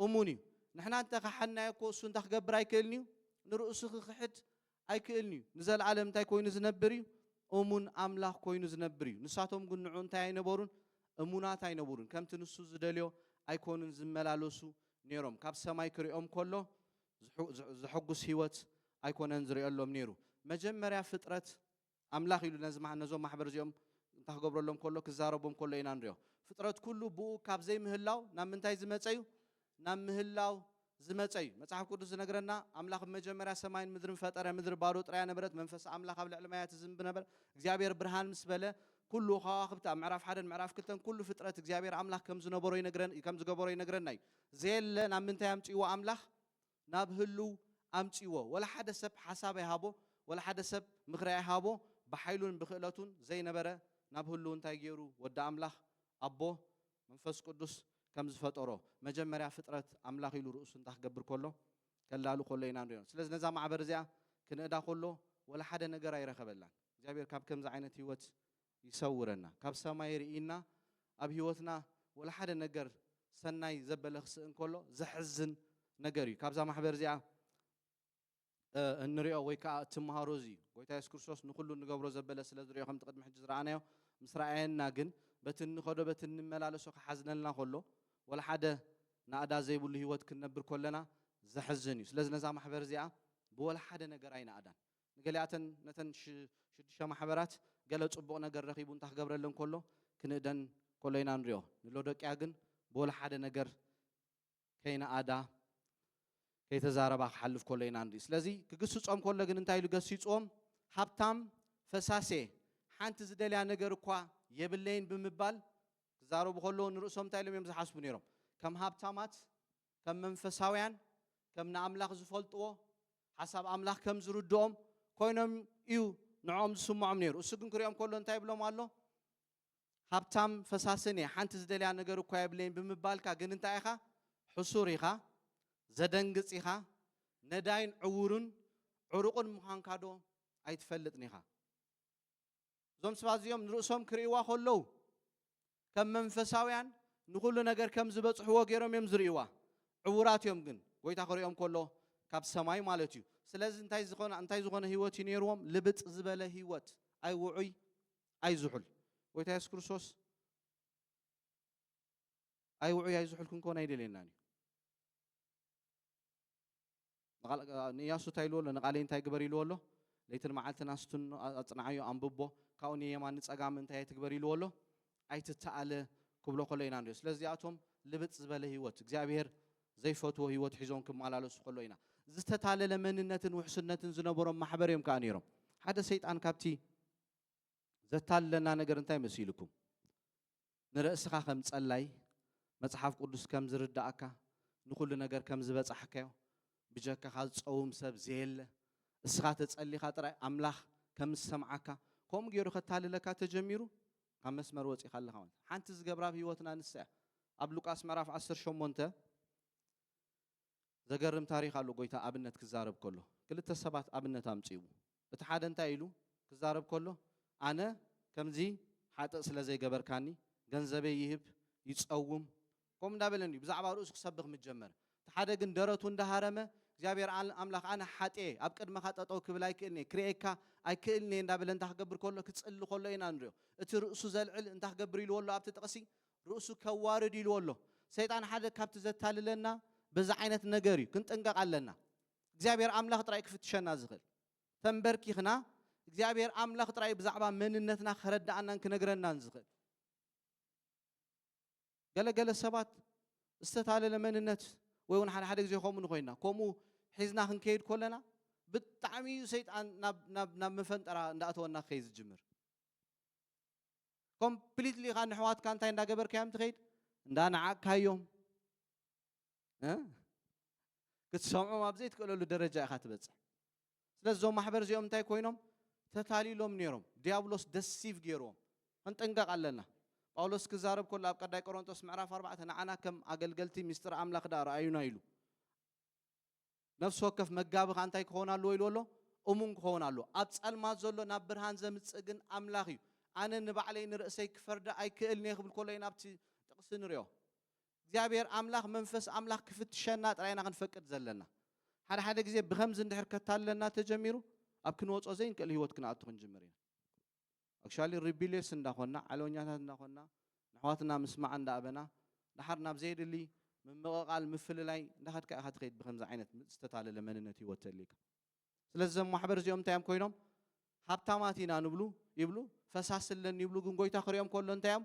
እሙን እዩ። ንሕና እንተ ኸሓድናዮ እኮ እሱ እንታይ ክገብር ኣይክእልን እዩ? ንርእሱ ክኽሕድ ኣይክእልን እዩ። ንዘለኣለም እንታይ ኮይኑ ዝነብር እዩ? እሙን ኣምላኽ ኮይኑ ዝነብር እዩ። ንሳቶም ግን ንዑ እንታይ ኣይነበሩን? እሙናት ኣይነበሩን። ከምቲ ንሱ ዝደልዮ ኣይኮኑን ዝመላለሱ ነይሮም። ካብ ሰማይ ክርእዮም ከሎ ዘሐጉስ ህይወት ኣይኮነን ዝርእየሎም ነይሩ። መጀመርያ ፍጥረት ኣምላኽ ኢሉ ነዚ ማሕ ነዞም ማሕበር እዚኦም እንታይ ክገብረሎም ከሎ ክዛረቦም ከሎ ኢና ንሪኦ። ፍጥረት ኩሉ ብኡ ካብ ዘይምህላው ናብ ምንታይ ዝመጸ እዩ? ናብ ምህላው ዝመጸ እዩ። መጽሓፍ ቅዱስ ዝነግረና ኣምላኽ ብመጀመርያ ሰማይን ምድርን ፈጠረ ምድሪ ባዶ ጥራያ ነበረት መንፈስ ኣምላኽ ኣብ ልዕሊ ማያት ይዝንብ ነበረ። እግዚኣብሔር ብርሃን ምስ በለ ኩሉ ከዋኽብቲ ኣብ ምዕራፍ ሓደን ምዕራፍ ክልተን ኩሉ ፍጥረት እግዚኣብሔር ኣምላኽ ከም ዝነበሮ ይነግረን ከም ዝገበሮ ይነግረና እዩ። ዘየለ ናብ ምንታይ ኣምጺእዎ ኣምላኽ? ናብ ህሉው ኣምጽዎ ወላ ሓደ ሰብ ሓሳብ ኣይሃቦ ወላ ሓደ ሰብ ምኽሪ ኣይሃቦ ብሓይሉን ብኽእለቱን ዘይነበረ ናብ ህሉው እንታይ ጌሩ ወዲ ኣምላኽ ኣቦ መንፈስ ቅዱስ ከም ዝፈጠሮ መጀመርያ ፍጥረት ኣምላኽ ኢሉ ርእሱ እንታይ ክገብር ከሎ ከላሉ ከሎ ኢና ንሪኦ ስለዚ ነዛ ማዕበር እዚኣ ክንእዳ ከሎ ወላ ሓደ ነገር ኣይረኸበላን እግዚኣብሔር ካብ ከምዚ ዓይነት ህይወት ይሰውረና ካብ ሰማይ ሪኢና ኣብ ሂወትና ወላ ሓደ ነገር ሰናይ ዘበለ ክስእን ከሎ ዘሕዝን ነገር እዩ ካብዛ ማሕበር እዚኣ እንሪኦ ወይ ከዓ እትምሃሮ እዚ እዩ ጎይታ የሱስ ክርስቶስ ንኩሉ እንገብሮ ዘበለ ስለ ዝሪኦ ከምቲ ቅድሚ ሕጂ ዝረኣናዮ ምስ ረኣየና ግን በቲ እንኸዶ በቲ እንመላለሶ ክሓዝነልና ከሎ ወላ ሓደ ናእዳ ዘይብሉ ሂወት ክንነብር ከለና ዘሕዝን እዩ ስለዚ ነዛ ማሕበር እዚኣ ብወላ ሓደ ነገር ኣይንኣዳን ንገሊኣተን ነተን ሽዱሽተ ማሕበራት ገለ ጽቡቕ ነገር ረኺቡ እንታ ክገብረለን ከሎ ክንእደን ከሎ ኢና ንሪኦ። ንሎዶቅያ ግን ብወላ ሓደ ነገር ከይነኣዳ ከይተዛረባ ክሓልፍ ከሎ ኢና ንርኢ። ስለዚ ክግስጾም ከሎ ግን እንታይ ኢሉ ገሲጽዎም? ሃብታም ፈሳሴ ሓንቲ ዝደልያ ነገር እኳ የብለይን ብምባል ክዛረቡ ከለዉ ንርእሶም እንታይ ኢሎም እዮም ዝሓስቡ ነይሮም? ከም ሃብታማት ከም መንፈሳውያን ከም ንኣምላኽ ዝፈልጥዎ ሓሳብ ኣምላኽ ከም ዝርድኦም ኮይኖም እዩ ንዕኦም ዝስምዖም ነይሩ። እሱ ግን ክሪኦም ከሎ እንታይ ይብሎም ኣሎ? ሃብታም ፈሳስን እየ ሓንቲ ዝደልያ ነገር እኳ የብለይን ብምባልካ ግን እንታይ ኢኻ? ሕሱር ኢኻ፣ ዘደንግጽ ኢኻ፣ ነዳይን ዕውሩን ዕሩቕን ምዃንካ ዶ ኣይትፈልጥን ኢኻ? እዞም ስባት እዚኦም ንርእሶም ክርእይዋ ከለዉ ከም መንፈሳውያን ንኹሉ ነገር ከም ዝበጽሕዎ ገይሮም እዮም ዝርእይዋ ዕውራት እዮም ግን ጎይታ ክርእዮም ከሎ ካብ ሰማይ ማለት እዩ ስለዚ እንታይ ዝኾነ እንታይ ዝኾነ ህይወት እዩ ነይርዎም ልብጥ ዝበለ ህይወት ኣይ ውዑይ ኣይ ዝሑል ጎይታ የሱስ ክርስቶስ ኣይ ውዑይ ኣይ ዝሑል ክንኮን ኣይደልየናን እዩ ንእያሱ እንታይ ኢልዎ ኣሎ? ንቓለይ እንታይ ግበር ኢልዎ ኣሎ? ለይትን መዓልትን ኣስትኖ፣ ኣጽንዓዮ፣ ኣንብቦ፣ ካብኡ ንየማን ንጸጋም እንታይ ኣይትግበር ኢልዎ ኣሎ? ኣይትተኣለ ክብሎ ከሎ ኢና ንሪኦ። ስለዚ እዚኣቶም ልብጥ ዝበለ ህይወት፣ እግዚኣብሄር ዘይፈትዎ ህይወት ሒዞም ክመላለሱ ከለዉ ኢና። ዝተታለለ መንነትን ውሕስነትን ዝነበሮም ማሕበር እዮም ከኣ ነይሮም። ሓደ ሰይጣን ካብቲ ዘታልለና ነገር እንታይ መሲሉኩም? ንርእስኻ ከም ጸላይ መጽሓፍ ቅዱስ ከም ዝርድኣካ ንኹሉ ነገር ከም ዝበጻሕካዮ ብጀካኻ ዝጸውም ሰብ ዘየለ እስኻ ተጸሊኻ ጥራይ ኣምላኽ ከም ዝሰምዓካ ከምኡ ገይሩ ከታልለካ ተጀሚሩ ካብ መስመር ወጺኻ ኣለኻ ማለት ሓንቲ ዝገብራ ኣብ ህይወትና ንሳ እያ ኣብ ሉቃስ ምዕራፍ 18 ዘገርም ታሪኽ ኣሎ ጎይታ ኣብነት ክዛረብ ከሎ ክልተ ሰባት ኣብነት ኣምጺኡ እቲ ሓደ እንታይ ኢሉ ክዛረብ ከሎ ኣነ ከምዚ ሓጥእ ስለ ዘይገበርካኒ ገንዘበይ ይህብ ይጸውም ከምኡ እንዳበለኒ ብዛዕባ ርእሱ ክሰብኽ ምስ ጀመረ እቲ ሓደ ግን ደረቱ እንዳሃረመ እግዚኣብሔር ኣምላኽ ኣነ ሓጥኤ ኣብ ቅድመኻ ጠጠው ክብል ኣይክእልን እየ ክርእየካ ኣይክእልን እየ እንዳበለ እንታይ ክገብር ከሎ ክጽሊ ከሎ ኢና ንሪኦ እቲ ርእሱ ዘልዕል እንታይ ክገብር ኢልዎ ኣሎ ኣብቲ ጥቕሲ ርእሱ ከዋርድ ኢልዎ ኣሎ ሰይጣን ሓደ ካብቲ ዘታልለና በዚ ዓይነት ነገር እዩ ክንጥንቀቅ ኣለና እግዚኣብሔር ኣምላኽ ጥራይ ክፍትሸና ዝኽእል ተንበርኪኽና እግዚኣብሔር ኣምላኽ ጥራይ ብዛዕባ መንነትና ከረዳኣናን ክነግረናን ዝኽእል ገለገለ ሰባት ዝተታለለ መንነት ወይ እውን ሓደ ሓደ ግዜ ከምኡ ንኮይና ከምኡ ሒዝና ክንከይድ ኮለና ብጣዕሚ እዩ ሰይጣን ናብ መፈንጠራ እንዳእተወና ክኸይ ዝጅምር ኮምፕሊትሊ ኸዓ ንሕዋትካ እንታይ እንዳገበርካዮም ትኸይድ እንዳነዓቅካዮም ክትሰምዖም ኣብ ዘይትክእለሉ ደረጃ ኢኻ ትበፅሕ ስለዚ እዞም ማሕበር እዚኦም እንታይ ኮይኖም ተታሊሎም ነይሮም ዲያብሎስ ደሲቭ ገይርዎም ክንጥንቀቕ ኣለና ጳውሎስ ክዛረብ ከሎ ኣብ ቀዳይ ቆሮንቶስ ምዕራፍ ኣርባዕተ ንዓና ከም ኣገልገልቲ ምስጢር ኣምላኽ ዳ ረኣዩና ኢሉ ነፍሲ ወከፍ መጋቢ ኸኣ እንታይ ክኸውን ኣለዎ ኢልዎ ኣሎ? እሙን ክኸውን ኣለዎ። ኣብ ጸልማት ዘሎ ናብ ብርሃን ዘምጽእ ግን ኣምላኽ እዩ። ኣነ ንባዕለይ ንርእሰይ ክፈርዳ ኣይክእልን'የ ክብል ከሎ ኢና ኣብቲ ጥቕሲ ንሪኦ። እግዚኣብሄር ኣምላኽ መንፈስ ኣምላኽ ክፍትሸና ጥራይ ኢና ክንፈቅድ ዘለና። ሓደ ሓደ ግዜ ብኸምዚ እንድሕር ከታልለና ተጀሚሩ ኣብ ክንወጾ ዘይንክእል ህይወት ክንኣቱ ክንጅምር ኢና። ኣክሽዋሊ ሪቢልየስ እንዳ ኾንና ዓለወኛታት እንዳ ኾንና ንኣሕዋትና ምስማዕ እንዳ ኣበና ደሓር ናብ ዘየድሊ ምምቕቓል ምፍልላይ እንዳ ኸድካ ኢኻ ትኸይድ ብኸምዚ ዓይነት ም ዝተታለለ መንነት ሂወት ተልይካ ስለዚ እዞም ማሕበር እዚኦም እንታይ እዮም ኮይኖም ሃብታማት ኢና ንብሉ ይብሉ ፈሳሲ ኣለኒ ይብሉ ግን ጎይታ ክሪኦም ከሎ እንታይ እዮም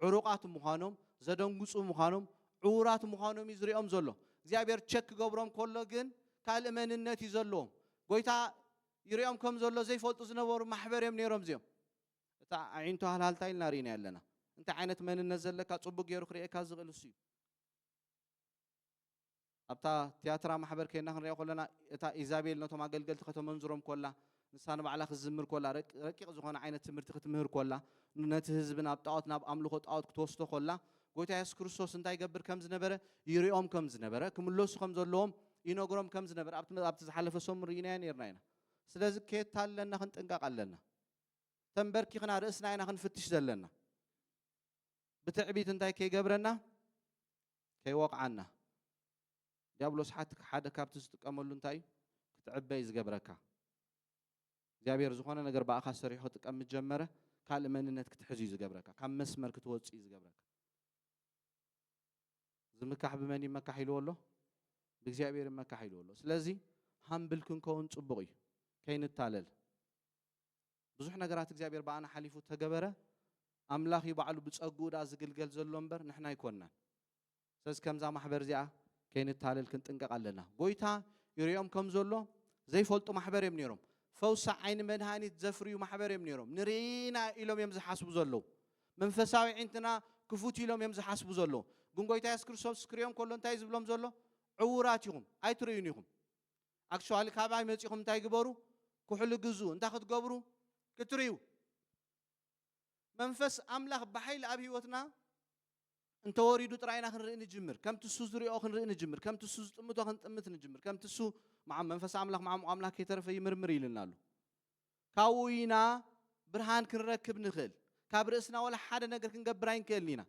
ዕሩቓት ምዃኖም ዘደንግጹ ምዃኖም ዕዉራት ምዃኖም እዩ ዝሪኦም ዘሎ እግዚኣብሔር ቸክ ክገብሮም ከሎ ግን ካልእ መንነት እዩ ዘለዎም ጎይታ ይሪኦም ከም ዘሎ ዘይፈልጡ ዝነበሩ ማሕበር እዮም ነይሮም እዚኦም እታ ኣዒንቱ ሃልሃልታ ኢልና ሪኢናዮ ኣለና እንታይ ዓይነት መንነት ዘለካ ጽቡቅ ገይሩ ክርእየካ ዝኽእል እሱ እዩ ኣብታ ትያትራ ማሕበር ከይና ክንሪኦ ከለና እታ ኢዛቤል ነቶም ኣገልገልቲ ከተመንዝሮም ኮላ ንሳ ንባዕላ ክትዝምር ኮላ ረቂቕ ዝኾነ ዓይነት ትምህርቲ ክትምህር ኮላ ነቲ ህዝቢ ናብ ጣዖት ናብ ኣምልኾ ጣዖት ክትወስዶ ኮላ ጎይታ የሱስ ክርስቶስ እንታይ ይገብር ከም ዝነበረ ይርኦም ከም ዝነበረ ክምለሱ ከም ዘለዎም ይነግሮም ከም ዝነበረ ኣብቲ መ- ኣብቲ ዝሓለፈ ሰሙን ርኢናዮ ነርና ኢና ስለዚ ከየታለና ክንጥንቀቕ ኣለና ተንበርኪኽና ርእስና ኢና ክንፍትሽ ዘለና ብትዕቢት እንታይ ከይገብረና ከይወቕዓና ዲያብሎስ ሓቲ ሓደ ካብቲ ዝጥቀመሉ እንታይ እዩ ክትዕበይ ዝገብረካ እግዚኣብሔር ዝኾነ ነገር ብኣኻ ሰሪሑ ክጥቀም ምስ ጀመረ ካልእ መንነት ክትሕዝ እዩ ዝገብረካ ካብ መስመር ክትወጽእ እዩ ዝገብረካ ዝምካሕ ብመን ይመካሕ ኢልዎ ኣሎ ብእግዚኣብሔር ይመካሕ ኢልዎ ኣሎ ስለዚ ሃምብል ክንከውን ጽቡቕ እዩ ከይንታለል ብዙሕ ነገራት እግዚኣብሔር ብኣና ሓሊፉ ተገበረ ኣምላኽ እዩ ባዕሉ ብጸግኡ ድኣ ዝግልገል ዘሎ እምበር ንሕና ኣይኮንናን ስለዚ ከምዛ ማሕበር እዚኣ ከይንታለል ክንጥንቀቕ ኣለና። ጎይታ ይሪኦም ከም ዘሎ ዘይፈልጡ ማሕበር እዮም ነይሮም። ፈውሲ ዓይኒ መድሃኒት ዘፍርዩ ማሕበር እዮም ነይሮም። ንርኢና ኢሎም እዮም ዝሓስቡ ዘለዉ። መንፈሳዊ ዒንትና ክፉት ኢሎም እዮም ዝሓስቡ ዘለዉ። ግን ጎይታ የሱስ ክርስቶስ ክሪኦም ከሎ እንታይ ዝብሎም ዘሎ? ዕዉራት ኢኹም ኣይትርእዩን ኢኹም ኣክቹዋሊ ካባይ መጺኹም እንታይ ግበሩ ኩሕሊ ግዙ እንታይ ክትገብሩ ክትርእዩ መንፈስ ኣምላኽ ብሓይሊ ኣብ ህይወትና እንተወሪዱ ጥራይ ኢና ክንርኢ ንጅምር ከምቲ እሱ ዝሪኦ ክንርኢ ንጅምር ከምቲ እሱ ዝጥምቶ ክንጥምት ንጅምር ከምቲ እሱ መዓ መንፈስ ኣምላኽ መዓሙቕ ኣምላኽ ከይተረፈ ይምርምር ኢሉና ኣሎ ካብኡ ኢና ብርሃን ክንረክብ ንኽእል ካብ ርእስና ወላ ሓደ ነገር ክንገብር ኣይንክእልን ኢና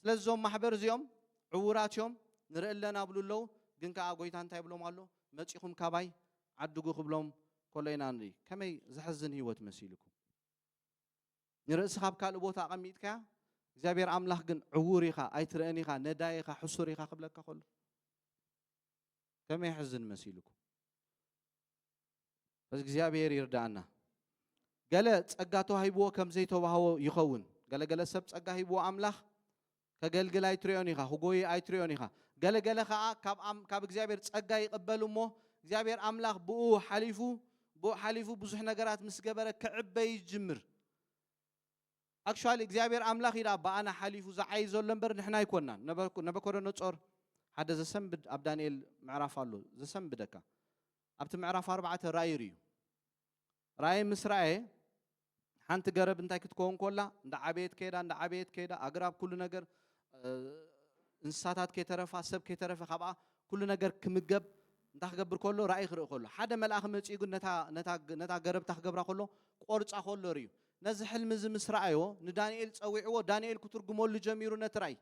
ስለዚ እዞም ማሕበር እዚኦም ዕውራት እዮም ንርኢ ኣለና ብሉ ኣለዉ ግን ከዓ ጎይታ እንታይ ብሎም ኣሎ መፂኹም ካባይ ዓድጉ ክብሎም ከሎ ኢና ንርኢ ከመይ ዘሕዝን ህይወት መሲልኩም ንርእስኻ ኣብ ካልእ ቦታ ኣቐሚጥካያ እግዚኣብሔር ኣምላኽ ግን ዕውር ኢኻ ኣይትርእን ኢኻ ነዳይ ኢኻ ሕሱር ኢኻ ክብለካ ከሎ ከመይ ሕዝን መሲልኩም እዚ እግዚኣብሔር ይርዳእና ገለ ጸጋ ተዋሂብዎ ከም ዘይተዋህቦ ይኸውን ገለገለ ሰብ ጸጋ ሂብዎ ኣምላኽ ከገልግል ኣይትሪኦን ኢኻ፣ ክጎዪ ኣይትሪኦን ኢኻ። ገለ ገለ ከኣ ካብ ኣም ካብ እግዚኣብሔር ጸጋ ይቕበል እሞ እግዚኣብሔር ኣምላኽ ብእኡ ሓሊፉ ብኡ ሓሊፉ ብዙሕ ነገራት ምስ ገበረ ክዕበ ይጅምር። ኣክቹዋሊ እግዚኣብሔር ኣምላኽ እዩ ደኣ ብኣና ሓሊፉ ዝዓዪ ዘሎ እምበር ንሕና ኣይኮናን። ነበርኩ ነበኮዶኖጾር ሓደ ዘሰንብድ ኣብ ዳንኤል ምዕራፍ ኣሎ ዘሰንብደካ ኣብቲ ምዕራፍ ኣርባዕተ ራእይ ርእዩ ራእይ ምስ ራእየ፣ ሓንቲ ገረብ እንታይ ክትከውን ኮላ፣ እንዳ ዓበየት ከይዳ፣ እንዳ ዓበየት ከይዳ፣ ኣግራብ ኩሉ ነገር፣ እንስሳታት ከይተረፋ፣ ሰብ ከይተረፈ ካብኣ ኩሉ ነገር ክምገብ እንታይ ክገብር ከሎ፣ ራእይ ክርኢ ከሎ። ሓደ መልኣኽ መጺኡ ግን ነታ ነታ ነታ ገረብ እንታይ ክገብራ ከሎ፣ ቆርጻ ከሎ ርእዩ። ነዚ ሕልሚ እዚ ምስ ረኣዮ፣ ንዳንኤል ጸዊዕዎ፣ ዳንኤል ክትርጉመሉ ጀሚሩ ነቲ ራእይ።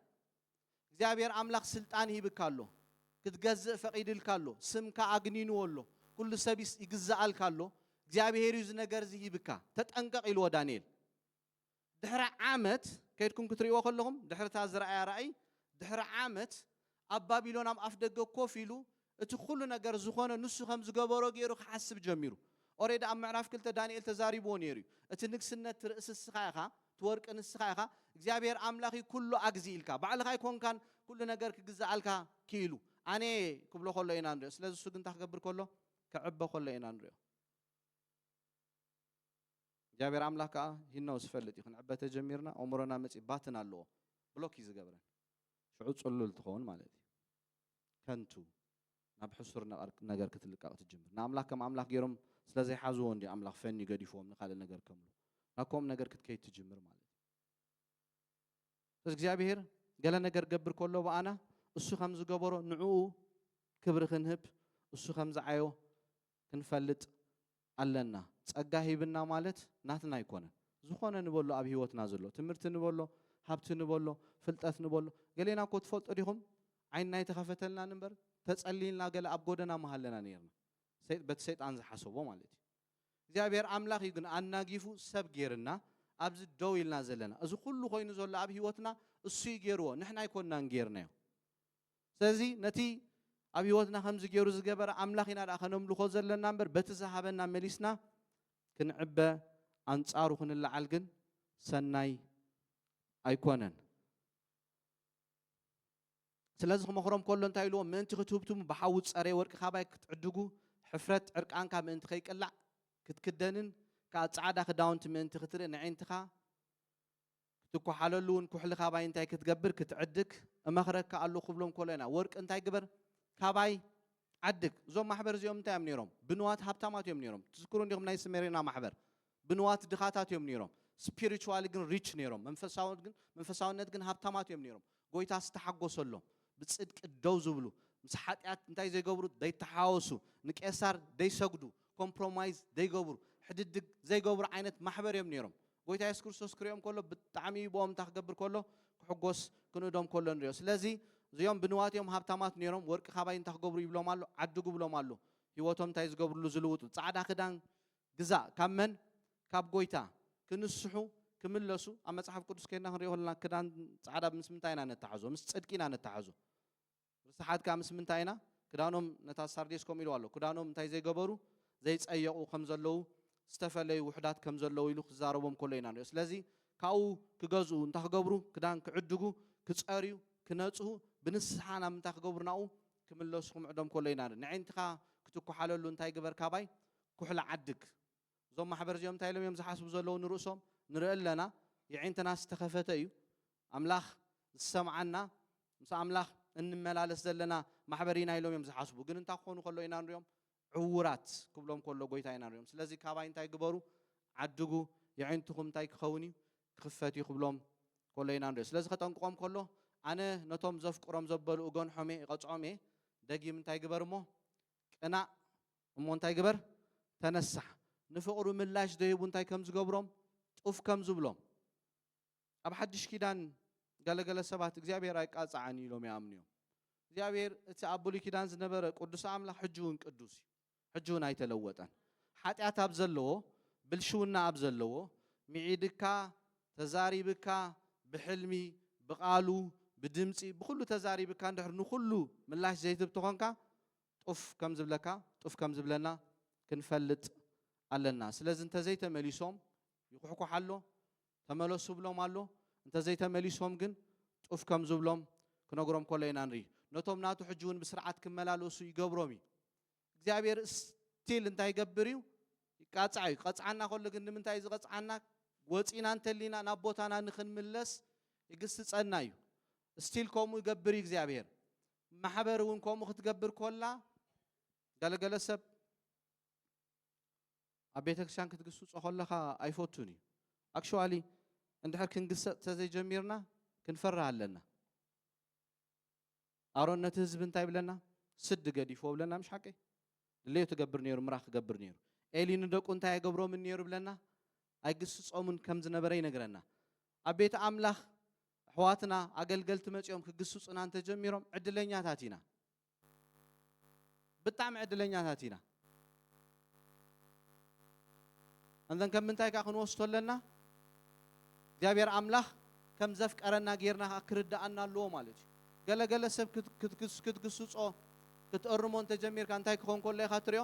እግዚኣብሔር ኣምላኽ ስልጣን ሂብካ ኣሎ ክትገዝእ ፈቂድልካ ኣሎ ስምካ ኣግኒንዎ ኣሎ ኩሉ ሰብ ይግዛኣልካ ኣሎ እግዚኣብሔር እዩ ዝነገር እዚ ሂብካ ተጠንቀቅ ኢልዎ ዳንኤል ድሕሪ ዓመት ከድኩም ክትርእዎ ከለኹም ድሕርታ ዝረኣያ ራእይ ድሕሪ ዓመት ኣብ ባቢሎን ኣብ ኣፍ ደገ ኮፍ ኢሉ እቲ ኩሉ ነገር ዝኾነ ንሱ ከም ዝገበሮ ገይሩ ክሓስብ ጀሚሩ። ኦሬዲ ኣብ ምዕራፍ ክልተ ዳንኤል ተዛሪብዎ ነይሩ እዩ። እቲ ንግስነት እቲ ርእሲ ንስኻ ኢኻ፣ እቲ ወርቂ ንስኻ ኢኻ፣ እግዚኣብሄር ኣምላኽ እዩ ኩሉ ኣግዚ ኢልካ። ባዕልኻ ኣይኮንካን ኩሉ ነገር ክግዝኣልካ ክኢሉ። ኣነ እየ ክብሎ ከሎ ኢና ንሪኦ። ስለዚ ንሱ ግን እንታይ ክገብር ከሎ ክዕበ ከሎ ኢና ንሪኦ። እግዚኣብሔር ኣምላኽ ከዓ ሂኖ ዝፈልጥ እዩ ክንዕበ ተጀሚርና ኣእምሮና መፂ ባትን ኣለዎ ብሎክ እዩ ዝገብረን ሽዑ ፅሉል ትኸውን ማለት እዩ ከንቱ ናብ ሕሱር ነገር ክትልቀቕ ትጅምር። ንኣምላኽ ከም ኣምላኽ ገይሮም ስለ ዘይሓዝዎ እንድዩ ኣምላኽ ፈንዩ ገዲፍዎም ንካልእ ነገር ከምሉ ናብ ከምኡ ነገር ክትከይድ ትጅምር ማለት እዩ። ስለዚ እግዚኣብሄር ገለ ነገር ገብር ከሎ ብኣና እሱ ከም ዝገበሮ ንዕኡ ክብሪ ክንህብ እሱ ከም ዝዓዮ ክንፈልጥ ኣለና ጸጋ ሂብና ማለት ናትና ኣይኮነን ዝኾነ ንበሎ ኣብ ሂወትና ዘሎ ትምህርቲ ንበሎ ሃብቲ ንበሎ ፍልጠት ንበሎ ገሌና እኮ ትፈልጡ ዲኹም ዓይንና ኣይተኸፈተልናን እምበር ተጸሊልና ገለ ኣብ ጎደና ምሃለና ኔርና በቲ ሰይጣን ዝሓሰቦ ማለት እዩ እግዚኣብሔር ኣምላኽ እዩ ግን ኣናጊፉ ሰብ ጌርና ኣብዚ ደው ኢልና ዘለና እዚ ኩሉ ኮይኑ ዘሎ ኣብ ሂወትና እሱ እዩ ጌርዎ ንሕና ኣይኮንናን ጌርናዮ ስለዚ ነቲ ኣብ ህይወትና ከምዚ ገይሩ ዝገበረ ኣምላኽ ኢና ደኣ ከነምልኾ ዘለና እምበር በቲ ዝሃበና መሊስና ክንዕበ ኣንጻሩ ክንለዓል ግን ሰናይ ኣይኮነን። ስለዚ ክመኽሮም ከሎ እንታይ ኢልዎም ምእንቲ ክትህብትሙ ብሓዊ ዝፀረየ ወርቂ ካባይ ክትዕድጉ ሕፍረት ዕርቃንካ ምእንቲ ከይቅላዕ ክትክደንን ከዓ ፃዕዳ ክዳውንቲ ምእንቲ ክትርኢ ነዒንትኻ ክትኳሓለሉ ውን ኩሕሊ ካባይ እንታይ ክትገብር ክትዕድግ እመኽረካ ኣሉ ክብሎም ኮሎ ኢና ወርቂ እንታይ ግበር ካባይ ዓድግ እዞም ማሕበር እዚኦም እንታይ እዮም ነይሮም ብንዋት ሃብታማት እዮም ነይሮም ትዝክሩ እንዲኹም ናይ ስሜሬና ማሕበር ብንዋት ድኻታት እዮም ነይሮም ስፒሪቹዋሊ ግን ሪች ነይሮም መንፈሳውነት ግን ሃብታማት እዮም ነይሮም ጎይታ ዝተሓጎሰሎም ብፅድቂ ደው ዝብሉ ምስ ሓጢኣት እንታይ ዘይገብሩ ዘይተሓወሱ ንቄሳር ዘይሰግዱ ኮምፕሮማይዝ ዘይገብሩ ሕድድግ ዘይገብሩ ዓይነት ማሕበር እዮም ነይሮም ጎይታ የሱስ ክርስቶስ ክሪኦም ከሎ ብጣዕሚ እዩ ብኦም እንታይ ክገብር ከሎ ክሕጎስ ክንእዶም ከሎ ንሪኦ ስለዚ እዚኦም ብንዋት እዮም ሃብታማት ነይሮም ወርቂ ካባይ እንታይ ክገብሩ ይብሎም ኣሎ ዓዱ ግብሎም ኣሎ ህይወቶም እንታይ ዝገብርሉ ዝልውጡ ፃዕዳ ክዳን ግዛእ ካብ መን ካብ ጎይታ ክንስሑ ክምለሱ ኣብ መጽሓፍ ቅዱስ ከድና ክንሪኦ ከለና ክዳን ጻዕዳ ምስ ምንታይ ኢና ነተሓዞ ምስ ጽድቂ ኢና ነተሓዞ ርስሓት ከኣ ምስ ምንታይ ኢና ክዳኖም ነታ ሳርዴስ ከምኡ ኢልዋ ኣሎ ክዳኖም እንታይ ዘይገበሩ ዘይጸየቁ ከም ዘለዉ ዝተፈለዩ ውሑዳት ከም ዘለዉ ኢሉ ክዛረቦም ከሎ ኢና ንሪኦ ስለዚ ካብኡ ክገዝኡ እንታይ ክገብሩ ክዳን ክዕድጉ ክጸርዩ ክነጽሁ ብንስሓ ናብ ምንታይ ክገብሩ ናብኡ ክምለሱ ክምዕዶም ከሎ ኢና ንርኢ ንዒንትኻ ክትኩሓለሉ እንታይ ግበር ካባይ ኩሕሊ ዓድግ እዞም ማሕበር እዚኦም እንታይ ኢሎም እዮም ዝሓስቡ ዘለዉ ንርእሶም ንርኢ ኣለና የዒንትናስ ዝተኸፈተ እዩ ኣምላኽ ዝሰምዓና ምስ ኣምላኽ እንመላለስ ዘለና ማሕበር ኢና ኢሎም እዮም ዝሓስቡ ግን እንታይ ክኾኑ ከሎ ኢና ንሪኦም ዕውራት ክብሎም ከሎ ጎይታ ኢና ንሪኦም ስለዚ ካባይ እንታይ ግበሩ ዓድጉ የዒንትኹም እንታይ ክኸውን እዩ ክኽፈት እዩ ክብሎም ከሎ ኢና ንሪኦ ስለዚ ከጠንቅቖም ከሎ ኣነ ነቶም ዘፍቅሮም ዘበሉ እገንሖም እየ ይቐፅዖም እየ ደጊም እንታይ ግበር እሞ ቅናእ እሞ እንታይ ግበር? ተነሳሕ። ንፍቕሩ ምላሽ ዘይህቡ እንታይ ከም ዝገብሮም፣ ጡፍ ከም ዝብሎም። ኣብ ሓድሽ ኪዳን ገለ ገለ ሰባት እግዚኣብሄር ኣይቃጻዕን እዩ ኢሎም ይኣምኑ እዮም። እግዚኣብሄር እቲ ኣብ ብሉይ ኪዳን ዝነበረ ቅዱስ ኣምላኽ ሕጂ እውን ቅዱስ እዩ። ሕጂ እውን ኣይተለወጠን። ሓጢኣት ኣብ ዘለዎ፣ ብልሽውና ኣብ ዘለዎ፣ ምዒድካ፣ ተዛሪብካ፣ ብሕልሚ፣ ብቓሉ፣ ብድምጺ፣ ብኹሉ ተዛሪብካ እንድሕር ንኹሉ ምላሽ ዘይትህብ ተኾንካ፣ ጡፍ ከም ዝብለካ ጡፍ ከም ዝብለና ክንፈልጥ ኣለና ስለዚ እንተዘይተመሊሶም ይኩሕኩሕ ኣሎ ተመለሱ ብሎም ኣሎ እንተዘይተመሊሶም ግን ጡፍ ከም ዝብሎም ክነግሮም ከሎ ኢና ንርኢ ነቶም ናቱ ሕጂ እውን ብስርዓት ክመላለሱ ይገብሮም እዩ እግዚኣብሔር ስቲል እንታይ ይገብር እዩ ይቃፅዕ እዩ ክቐፅዓና ከሎ ግን ንምንታይ እዩ ዝቐፅዓና ወፂና እንተሊና ናብ ቦታና ንክንምለስ ይግስፀና እዩ ስቲል ከምኡ ይገብር እዩ እግዚኣብሔር ማሕበር እውን ከምኡ ክትገብር ኮላ ገለገለ ሰብ ኣብ ቤተ ክርስቲያን ክትግስጾ ከለኻ ኣይፈቱን እዩ ኣክሽዋሊ እንድሕር ክንግሰጥ ተዘይጀሚርና ክንፈርህ ኣለና ኣሮን ነቲ ህዝቢ እንታይ ብለና ስዲ ገዲፍዎ ብለና ምሽ ሓቂ ድሌቱ ክገብር ነይሩ ምራ ክገብር ነይሩ ኤሊ ንደቁ እንታይ ኣይገብሮምን ነይሩ ይብለና ኣይግስጾምን ከም ዝነበረ ይነግረና ኣብ ቤት ኣምላኽ ኣሕዋትና ኣገልገልቲ መጺኦም ክግስጹና እንተጀሚሮም ዕድለኛታት ኢና ብጣዕሚ ዕድለኛታት ኢና እንተን ከም ምንታይ ከኣ ክንወስቶ ኣለና? እግዚኣብሔር ኣምላኽ ከም ዘፍቀረና ጌርና ከኣ ክርደኣና ኣለዎ ማለት እዩ። ገለ ገለ ሰብ ክትግስጾ ክትእርሞ እንተ ጀሚርካ እንታይ ክኾን ከሎ ኢኻ ትሪኦ?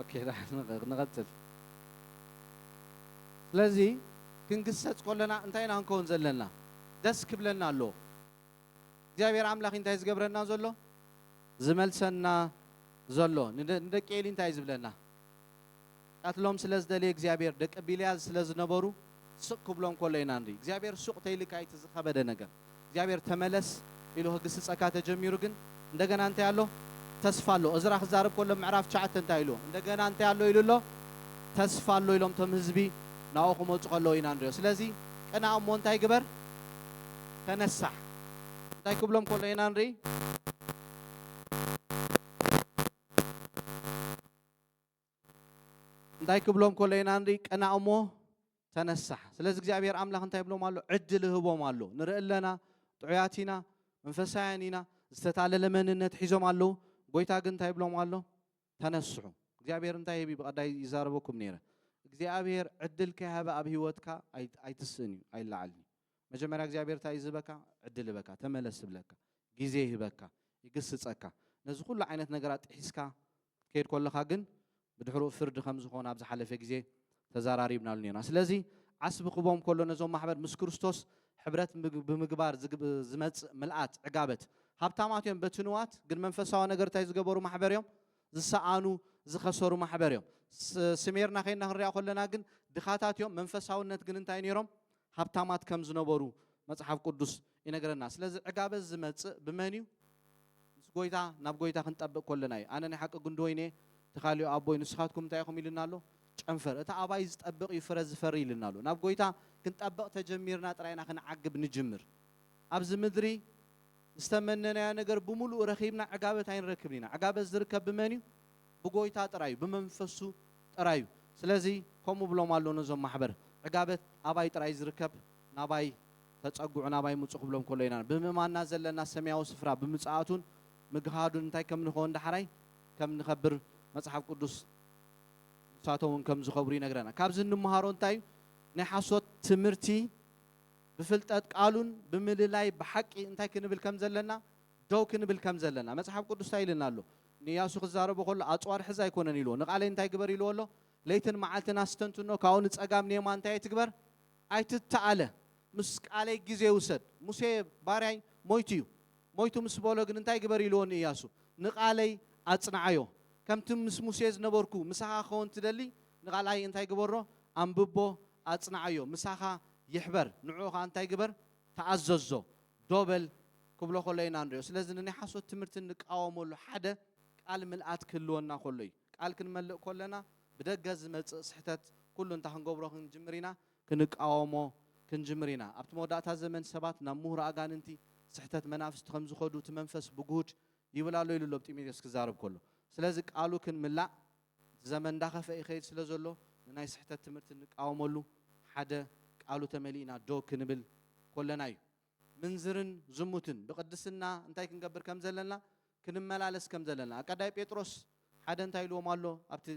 ኦኬ ንቐጽል ስለዚ ክንግሰጽ ኮለና እንታይ ኢና ክንከውን ዘለና ደስ ክብለና ኣሎ እግዚኣብሔር ኣምላኽ እንታይ ዝገብረና ዘሎ ዝመልሰና ዘሎ ንደቂ ኤሊ እንታይ ዝብለና ክቀትሎም ስለ ዝደለየ እግዚኣብሔር ደቂ ቢልያዝ ስለ ዝነበሩ ስቅ ክብሎም ከሎ ኢና ንርኢ እግዚኣብሔር ሱቅ ተይልካ ኢቲ ዝከበደ ነገር እግዚኣብሔር ተመለስ ኢሉ ክግስጸካ ተጀሚሩ ግን እንደገና እንታይ ኣሎ ተስፋ ኣሎ እዝራ ክዛረብ ከሎ ኣብ ምዕራፍ ትሽዓተ እንታይ ኢሉ እንደገና እንታይ ኣሎ ኢሉ ኣሎ ተስፋ ኣሎ ኢሎም ቶም ህዝቢ ናብኡ ክመጹ ከለዉ ኢና ንሪኦ ስለዚ ቅናእ እሞ እንታይ ግበር ተነሳሕ እንታይ ክብሎም ከሎ ኢና ንርኢ እንታይ ክብሎም ከሎ ኢና ንርኢ ቀና እሞ ተነሳሕ ስለዚ እግዚኣብሔር ኣምላኽ እንታይ ብሎም ኣሎ ዕድል ህቦም ኣሎ ንርኢ ኣለና ጥዑያት ኢና መንፈሳውያን ኢና ዝተታለለ መንነት ሒዞም ኣለዉ ጎይታ ግን እንታይ ብሎም ኣሎ ተነስሑ እግዚኣብሔር እንታይ ህቢ ብቐዳይ ይዛረበኩም ነይረ እግዚኣብሔር ዕድል ከይሃበ ኣብ ህይወትካ ኣይትስእን እዩ ኣይለዓልን እዩ መጀመርያ እግዚኣብሔር እንታይ ዝበካ ዕድል ህበካ ተመለስ ብለካ ግዜ ይህበካ ይግስፀካ ነዚ ኩሉ ዓይነት ነገራት ጥሒስካ ክትከይድ ከለኻ ግን ብድሕርኡ ፍርዲ ከም ዝኾን ኣብ ዝሓለፈ ግዜ ተዛራሪብናሉ ኔርና። ስለዚ ዓስቢ ክቦም ከሎ ነዞም ማሕበር ምስ ክርስቶስ ሕብረት ብምግባር ዝመጽእ ምልኣት፣ ዕጋበት፣ ሃብታማት እዮም በቲ ንዋት ግን መንፈሳዊ ነገር እንታይ ዝገበሩ ማሕበር እዮም? ዝሰኣኑ ዝኸሰሩ ማሕበር እዮም። ስሜርና ከይና ክንሪኣ ከለና ግን ድኻታት እዮም መንፈሳውነት ግን እንታይ ኔሮም? ሃብታማት ከም ዝነበሩ መጽሓፍ ቅዱስ ይነግረና። ስለዚ ዕጋበ ዝመጽእ ብመን እዩ? ምስ ጎይታ ናብ ጎይታ ክንጠብቅ ኮለና እዩ። ኣነ ናይ ሓቂ ጉንዲ ወይኒ እየ፣ ተካልዮ ኣቦይ ንስካትኩም እንታይ ኢኩም ኢሉና ኣሎ? ጨንፈር እቲ ኣባይ ዝጠብቅ እዩ ፍረ ዝፈሪ ኢሉና ኣሎ። ናብ ጎይታ ክንጠብቅ ተጀሚርና ጥራይ ኢና ክንዓግብ ንጅምር። ኣብዚ ምድሪ ዝተመነናዮ ነገር ብሙሉኡ ረኪብና ዕጋበት ኣይንረክብን ኢና። ዕጋበት ዝርከብ ብመን እዩ? ብጎይታ ጥራዩ ብመንፈሱ ጥራዩ ስለዚ ከምኡ ብሎም ኣሎ ነዞም ማሕበር ዕጋበት ኣባይ ጥራይ ዝርከብ ናባይ ተጸግዑ ናባይ ምጹ ክብሎም ከሎ ኢና ብምእማንና ዘለና ሰምያዊ ስፍራ ብምጽኣቱን ምግሃዱን እንታይ ከም ንከውን ዳሕራይ ከም ንከብር መጽሓፍ ቅዱስ ንሳቶምውን ከም ዝከብሩ ይነግረና ካብዚ እንምሃሮ እንታዩ ናይ ሓሶት ትምህርቲ ብፍልጠት ቃሉን ብምልላይ ብሓቂ እንታይ ክንብል ከም ዘለና ደው ክንብል ከም ዘለና መጽሓፍ ቅዱስ እንታይ ኢልና ኣሎ ንእያሱ ክዛረቦ ከሎ ኣጽዋር ሕዝ ኣይኮነን ኢልዎ። ንቃሌ እንታይ ግበር ኢልዎ ኣሎ? ለይትን መዓልትን ኣስተንትኖ ካብኡ ንጸጋም ንየማን እንታይ ኣይትግበር? ኣይትተኣለ። ምስ ቃሌ ግዜ ውሰድ። ሙሴ ባርያይ ሞይቱ እዩ። ሞይቱ ምስ በሎ ግን እንታይ ግበር ኢልዎ ንእያሱ? ንቃለይ ኣጽንዓዮ። ከምቲ ምስ ሙሴ ዝነበርኩ ምሳኻ ክኸውን ትደሊ ንቃልኣይ እንታይ ግበሮ? ኣንብቦ ኣጽንዓዮ። ምሳኻ ይሕበር። ንዕኡ ከኣ እንታይ ግበር? ተኣዘዞ። ዶ በል ክብሎ ከሎ ኢና ንሪኦ። ስለዚ ንናይ ሓሶት ትምህርቲ እንቃወመሉ ሓደ ቃል ምልኣት ክህልወና ከሎ እዩ። ቃል ክንመልእ ከለና ብደገ ዝመጽእ ስሕተት ኩሉ እንታይ ክንገብሮ ክንጅምር ኢና? ክንቃወሞ ክንጅምር ኢና። ኣብቲ መወዳእታ ዘመን ሰባት ናብ ምሁር ኣጋንንቲ፣ ስሕተት መናፍስቲ ከም ዝኸዱ እቲ መንፈስ ብግሁድ ይብል ኣሎ ኢሉ ኣሎ ብ ጢሞቴዎስ ክዛረብ ከሎ። ስለዚ ቃሉ ክንምላእ እቲ ዘመን እንዳኸፈ ይኸይድ ስለ ዘሎ ንናይ ስሕተት ትምህርቲ እንቃወመሉ ሓደ ቃሉ ተመሊእና ዶ ክንብል ኮለና እዩ ምንዝርን ዝሙትን ብቅድስና እንታይ ክንገብር ከም ዘለና ክንመላለስ ከም ዘለና ኣቀዳይ ጴጥሮስ ሓደ እንታይ ኢልዎም ኣሎ ኣብቲ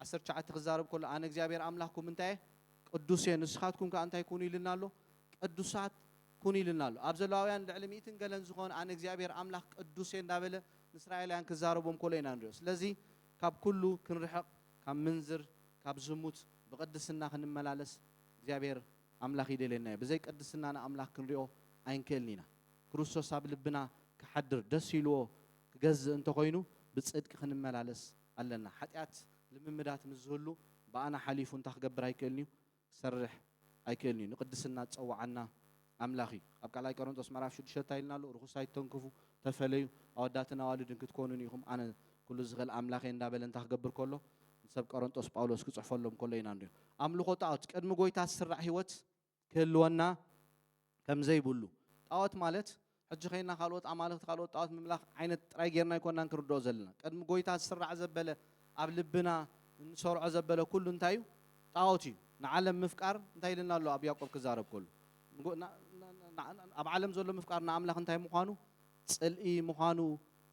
ዓሰርተ ትሽዓተ ክዛረብ ከሎ ኣነ እግዚኣብሔር ኣምላክኩም እንታይ እየ ቅዱስ እየ ንስኻትኩም ከኣ እንታይ ኩኑ ኢልና ኣሎ ቅዱሳት ኩኑ ኢልና ኣሎ ኣብ ዘለዋውያን ልዕሊ ሚእትን ገለን ዝኾን ኣነ እግዚኣብሔር ኣምላኽ ቅዱስ እየ እንዳበለ ንእስራኤላውያን ክዛረቦም ኮሎ ኢና ንሪኦ ስለዚ ካብ ኩሉ ክንርሕቕ ካብ ምንዝር ካብ ዝሙት ብቅድስና ክንመላለስ እግዚኣብሔር ኣምላኽ ይደልየና እዩ ብዘይ ቅድስና ንኣምላኽ ክንሪኦ ኣይንክእልን ኢና ክርስቶስ ኣብ ልብና ክሓድር ደስ ኢልዎ ክገዝእ እንተኾይኑ ብጽድቂ ክንመላለስ ኣለና ሓጢኣት ልምምዳት ምስ ዝህሉ ብኣና ሓሊፉ እንታይ ክገብር ኣይክእልን እዩ ክሰርሕ ኣይክእልን'ዩ። ንቅድስና ዝጸወዓና ኣምላኽ እዩ። ኣብ ካልኣይ ቀረንጦስ ምዕራፍ ሽዱሽተ ታይ ኢልና ኣሎ? ርኹስ ኣይትተንክፉ፣ ተፈለዩ፣ ኣወዳትን ኣዋልድን ክትኮኑኒ ኢኹም፣ ኣነ ኩሉ ዝኽእል ኣምላኽ እየ እንዳበለ እንታይ ክገብር ከሎ ንሰብ ቀረንጦስ ጳውሎስ ክጽሕፈሎም ከሎ ኢና ንሪኦ። ኣምልኾ ጣኦት ቅድሚ ጎይታ ዝስራዕ ሕይወት ክህልወና ከምዘይብሉ። ጣኦት ማለት ሕጂ ዄንና ካልኦት ኣማልኽቲ ካልኦት ጣኦት ምምላኽ ዓይነት ጥራይ ጌርና ኣይኮናን ክንርድኦ ዘለና። ቅድሚ ጐይታ ዝስራዕ ዘበለ ኣብ ልብና እንሰርዖ ዘበለ ኩሉ እንታይ እዩ? ጣኦት እዩ። ንዓለም ምፍቃር እንታይ ኢሉና ኣሎ ኣብ ያእቆብ ክዛረብ ከሉ? ኣብ ዓለም ዘሎ ምፍቃር ንኣምላኽ እንታይ ምዃኑ? ጽልኢ ምዃኑ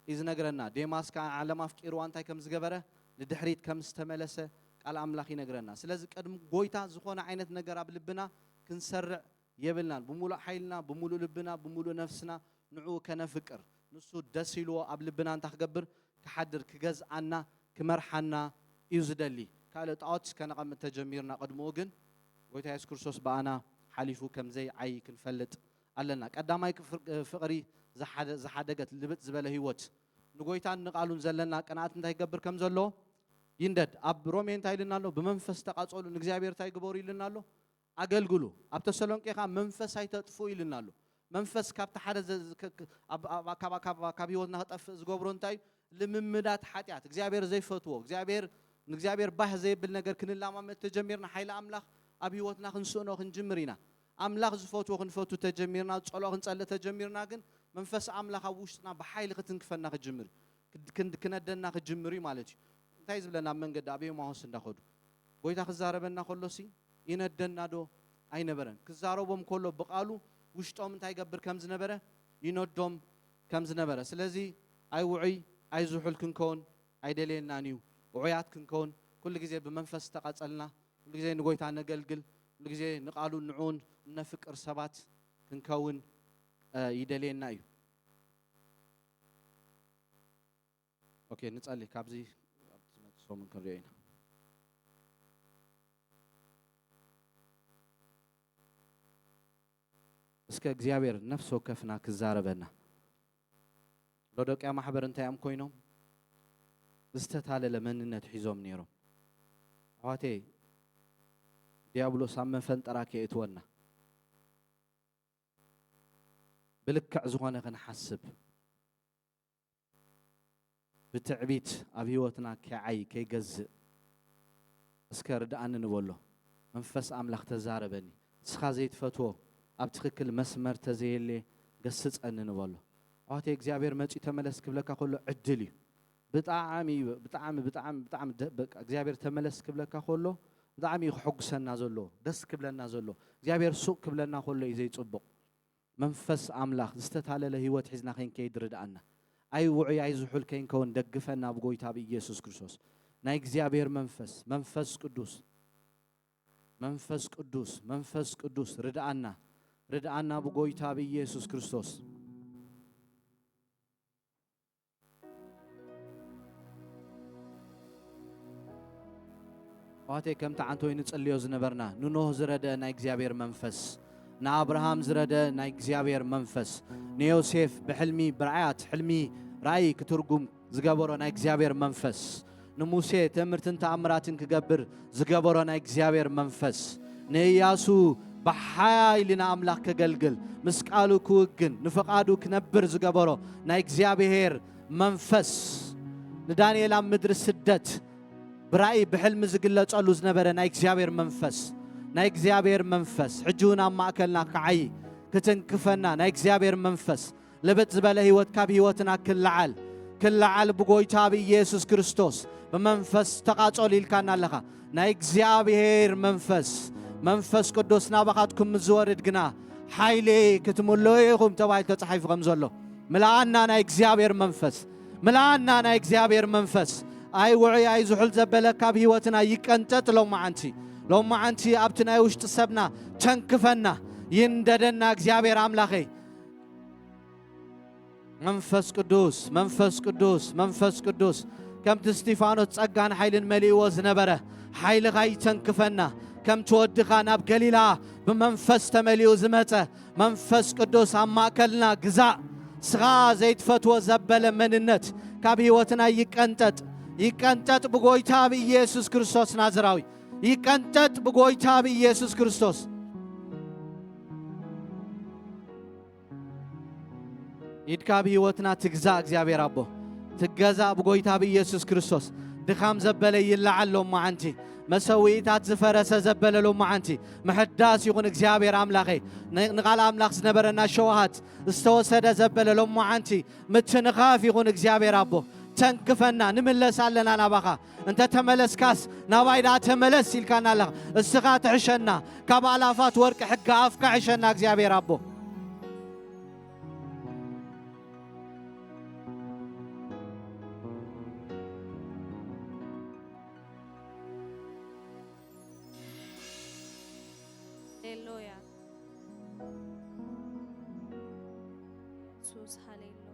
እዩ ዝነግረና። ዴማስ ከኣ ዓለም ኣፍቂርዋ እንታይ ከም ዝገበረ? ንድሕሪት ከም ዝተመለሰ ቃል ኣምላኽ ይነግረና። ስለዚ ቅድሚ ጐይታ ዝኾነ ዓይነት ነገር ኣብ ልብና ክንሰርዕ የብልናን ብምሉእ ሓይልና ብምሉእ ልብና ብምሉእ ነፍስና ንዕኡ ከነፍቅር ንሱ ደስ ኢልዎ ኣብ ልብና እንታይ ክገብር ክሓድር ክገዝኣና ክመርሓና እዩ ዝደሊ ካልእ ጣኦት ከነቐምጥ ተጀሚርና ቅድምኡ ግን ጎይታ የሱስ ክርስቶስ ብኣና ሓሊፉ ከምዘይ ዓዪ ክንፈልጥ ኣለና ቀዳማይ ፍቕሪ ዝሓደገት ልብጥ ዝበለ ህይወት ንጎይታን ንቓሉን ዘለና ቅንኣት እንታይ ይገብር ከም ዘሎ ይንደድ ኣብ ሮሜ እንታይ ኢልና ኣሎ ብመንፈስ ተቓጸሉ ንእግዚኣብሔር እንታይ ግበሩ ኢልና ኣሎ ኣገልግሉ ኣብ ተሰሎንቄ ከኣ መንፈስ ኣይተጥፍኡ ኢሉና ኣሎ መንፈስ ካብቲ ሓደ ካብ ህይወትና ክጠፍእ ዝገብሮ እንታይ እዩ ልምምዳት ሓጢኣት እግዚኣብሔር ዘይፈትዎ እግዚኣብሔር ንእግዚኣብሔር ባህ ዘይብል ነገር ክንላማመድ ተጀሚርና ሓይሊ ኣምላኽ ኣብ ህይወትና ክንስእኖ ክንጅምር ኢና ኣምላኽ ዝፈትዎ ክንፈቱ ተጀሚርና ጸሎኦ ክንጸልእ ተጀሚርና ግን መንፈስ ኣምላኽ ኣብ ውሽጥና ብሓይሊ ክትንክፈና ክጅምር ክነደና ክጅምር እዩ ማለት እዩ እንታይ ዝብለና ኣብ መንገዲ ኣብ ኤማሆስ እንዳኸዱ ጎይታ ክዛረበና ከሎሲ ይነደና ዶ ኣይነበረን ክዛረቦም ኮሎ ብቃሉ ውሽጦም እንታይ ይገብር ከም ዝነበረ ይነዶም ከም ዝነበረ ስለዚ ኣይ ውዑይ ኣይ ዝሑል ክንከውን ኣይደልየናን እዩ ውዑያት ክንከውን ኩሉ ግዜ ብመንፈስ ዝተቀጸልና ኩሉ ግዜ ንጎይታ ነገልግል ኩሉ ግዜ ንቃሉን ንዕኡን እነፍቅር ሰባት ክንከውን ይደልየና እዩ። ኦኬ ንጸሊ ካብዚ ኣብ ዝመጽእ ሰሙን ክንሪኦ ኢና። እስከ እግዚኣብሔር ነፍሲ ወከፍና ክዛረበና ሎዶቅያ ማሕበር እንታይ እዮም ኮይኖም ዝተታለለ መንነት ሒዞም ነይሮም ኣሕዋቴ ዲያብሎስ ኣብ መፈንጠራ ከየእትወና ብልክዕ ዝኾነ ክንሓስብ ብትዕቢት ኣብ ህይወትና ከይዓይ ከይገዝእ እስከ ርድኣኒ ንበሎ መንፈስ ኣምላኽ ተዛረበኒ ንስኻ ዘይትፈትዎ ኣብ ትኽክል መስመር ተዘየሌ ገስጸኒ ንበሎ ኣሕዋተይ እግዚኣብሔር መጽዩ ተመለስ ክብለካ ከሎ ዕድል እዩ ብጣዕሚ ብጣዕሚ ብጣዕሚ ብጣዕሚ በቃ እግዚኣብሔር ተመለስ ክብለካ ከሎ ብጣዕሚ እዩ ክሕጉሰና ዘሎ ደስ ክብለና ዘሎ እግዚኣብሔር ሱቅ ክብለና ከሎ እዩ ዘይጽቡቅ መንፈስ ኣምላኽ ዝተታለለ ህይወት ሒዝና ከይንከይድ ርድኣና። ኣይ ውዑይ ኣይ ዝሑል ከይንከውን ደግፈና ብ ጎይታ ብ ኢየሱስ ክርስቶስ። ናይ እግዚኣብሔር መንፈስ መንፈስ ቅዱስ መንፈስ ቅዱስ መንፈስ ቅዱስ ርድኣና ርድኣና ብ ጎይታ ብ ኢየሱስ ክርስቶስ። ኣሕዋተይ ከምቲ ዓንተ ወይ ንጽልዮ ዝነበርና ንኖህ ዝረደ ናይ እግዚኣብሔር መንፈስ ንኣብርሃም ዝረደ ናይ እግዚኣብሔር መንፈስ ንዮሴፍ ብሕልሚ ብርዓያት ሕልሚ ራእይ ክትርጉም ዝገበሮ ናይ እግዚኣብሔር መንፈስ ንሙሴ ተእምርትን ተኣምራትን ክገብር ዝገበሮ ናይ እግዚኣብሔር መንፈስ ንእያሱ ብሓይሊ ንኣምላኽ ከገልግል ምስ ቃሉ ክውግን ንፍቓዱ ክነብር ዝገበሮ ናይ እግዚኣብሔር መንፈስ ንዳንኤል ኣብ ምድሪ ስደት ብራእይ ብሕልሚ ዝግለጸሉ ዝነበረ ናይ እግዚኣብሔር መንፈስ ናይ እግዚኣብሔር መንፈስ ሕጂ እውን ኣብ ማእከልና ክዓይ ክትንክፈና ናይ እግዚኣብሔር መንፈስ ልብጥ ዝበለ ሕይወት ካብ ሕይወትና ክለዓል ክለዓል ብጎይታ ብኢየሱስ ክርስቶስ ብመንፈስ ተቓጸሉ ኢልካና ኣለኻ። ናይ እግዚኣብሔር መንፈስ መንፈስ ቅዱስ ናባኻትኩም ምስ ዝወርድ ግና ሓይሊ ክትምልኡ ኢኹም ተባሂሉ ተጻሒፉ ከም ዘሎ ምልኣና ናይ እግዚኣብሔር መንፈስ ምልኣና ናይ እግዚኣብሔር መንፈስ ኣይ ውዑይ ኣይ ዝሑል ዘበለ ካብ ህይወትና ይቀንጠጥ ሎማዓንቲ ሎማዓንቲ ኣብቲ ናይ ውሽጢ ሰብና ተንክፈና ይንደደና እግዚኣብሔር ኣምላኸይ መንፈስ ቅዱስ መንፈስ ቅዱስ መንፈስ ቅዱስ ከምቲ እስጢፋኖስ ጸጋን ሓይልን መሊእዎ ዝነበረ ሓይልኻ ይተንክፈና ከምቲ ወድኻ ናብ ገሊላ ብመንፈስ ተመሊኡ ዝመጸ መንፈስ ቅዱስ ኣብ ማእከልና ግዛእ ስኻ ዘይትፈትዎ ዘበለ መንነት ካብ ህይወትና ይቀንጠጥ ይቀንጠጥ ብጎይታ ብኢየሱስ ክርስቶስ ናዝራዊ ይቀንጠጥ ብጎይታ ብኢየሱስ ክርስቶስ። ኢድካ ኣብ ህይወትና ትግዛ እግዚኣብሔር ኣቦ ትገዛ ብጎይታ ብኢየሱስ ክርስቶስ ድኻም ዘበለ ይለዓል ሎመዓንቲ መሰዊኢታት ዝፈረሰ ዘበለ ሎመዓንቲ ምሕዳስ ይኹን እግዚኣብሔር ኣምላኸ ንቓል ኣምላኽ ዝነበረና ሸውሃት ዝተወሰደ ዘበለ ሎመዓንቲ ምትንኻፍ ይኹን እግዚኣብሔር ኣቦ ተንክፈና ንምለስ ኣለና ናባኻ እንተ ተመለስካስ ናባይ ደኣ ተመለስ ኢልካና ኣለኻ። እስኻ ትሕሸና ካብ ኣላፋት ወርቂ ሕጊ ኣፍካ ሕሸና እግዚኣብሔር ኣቦ። ሃሌሉያ ኢየሱስ ሃሌሉያ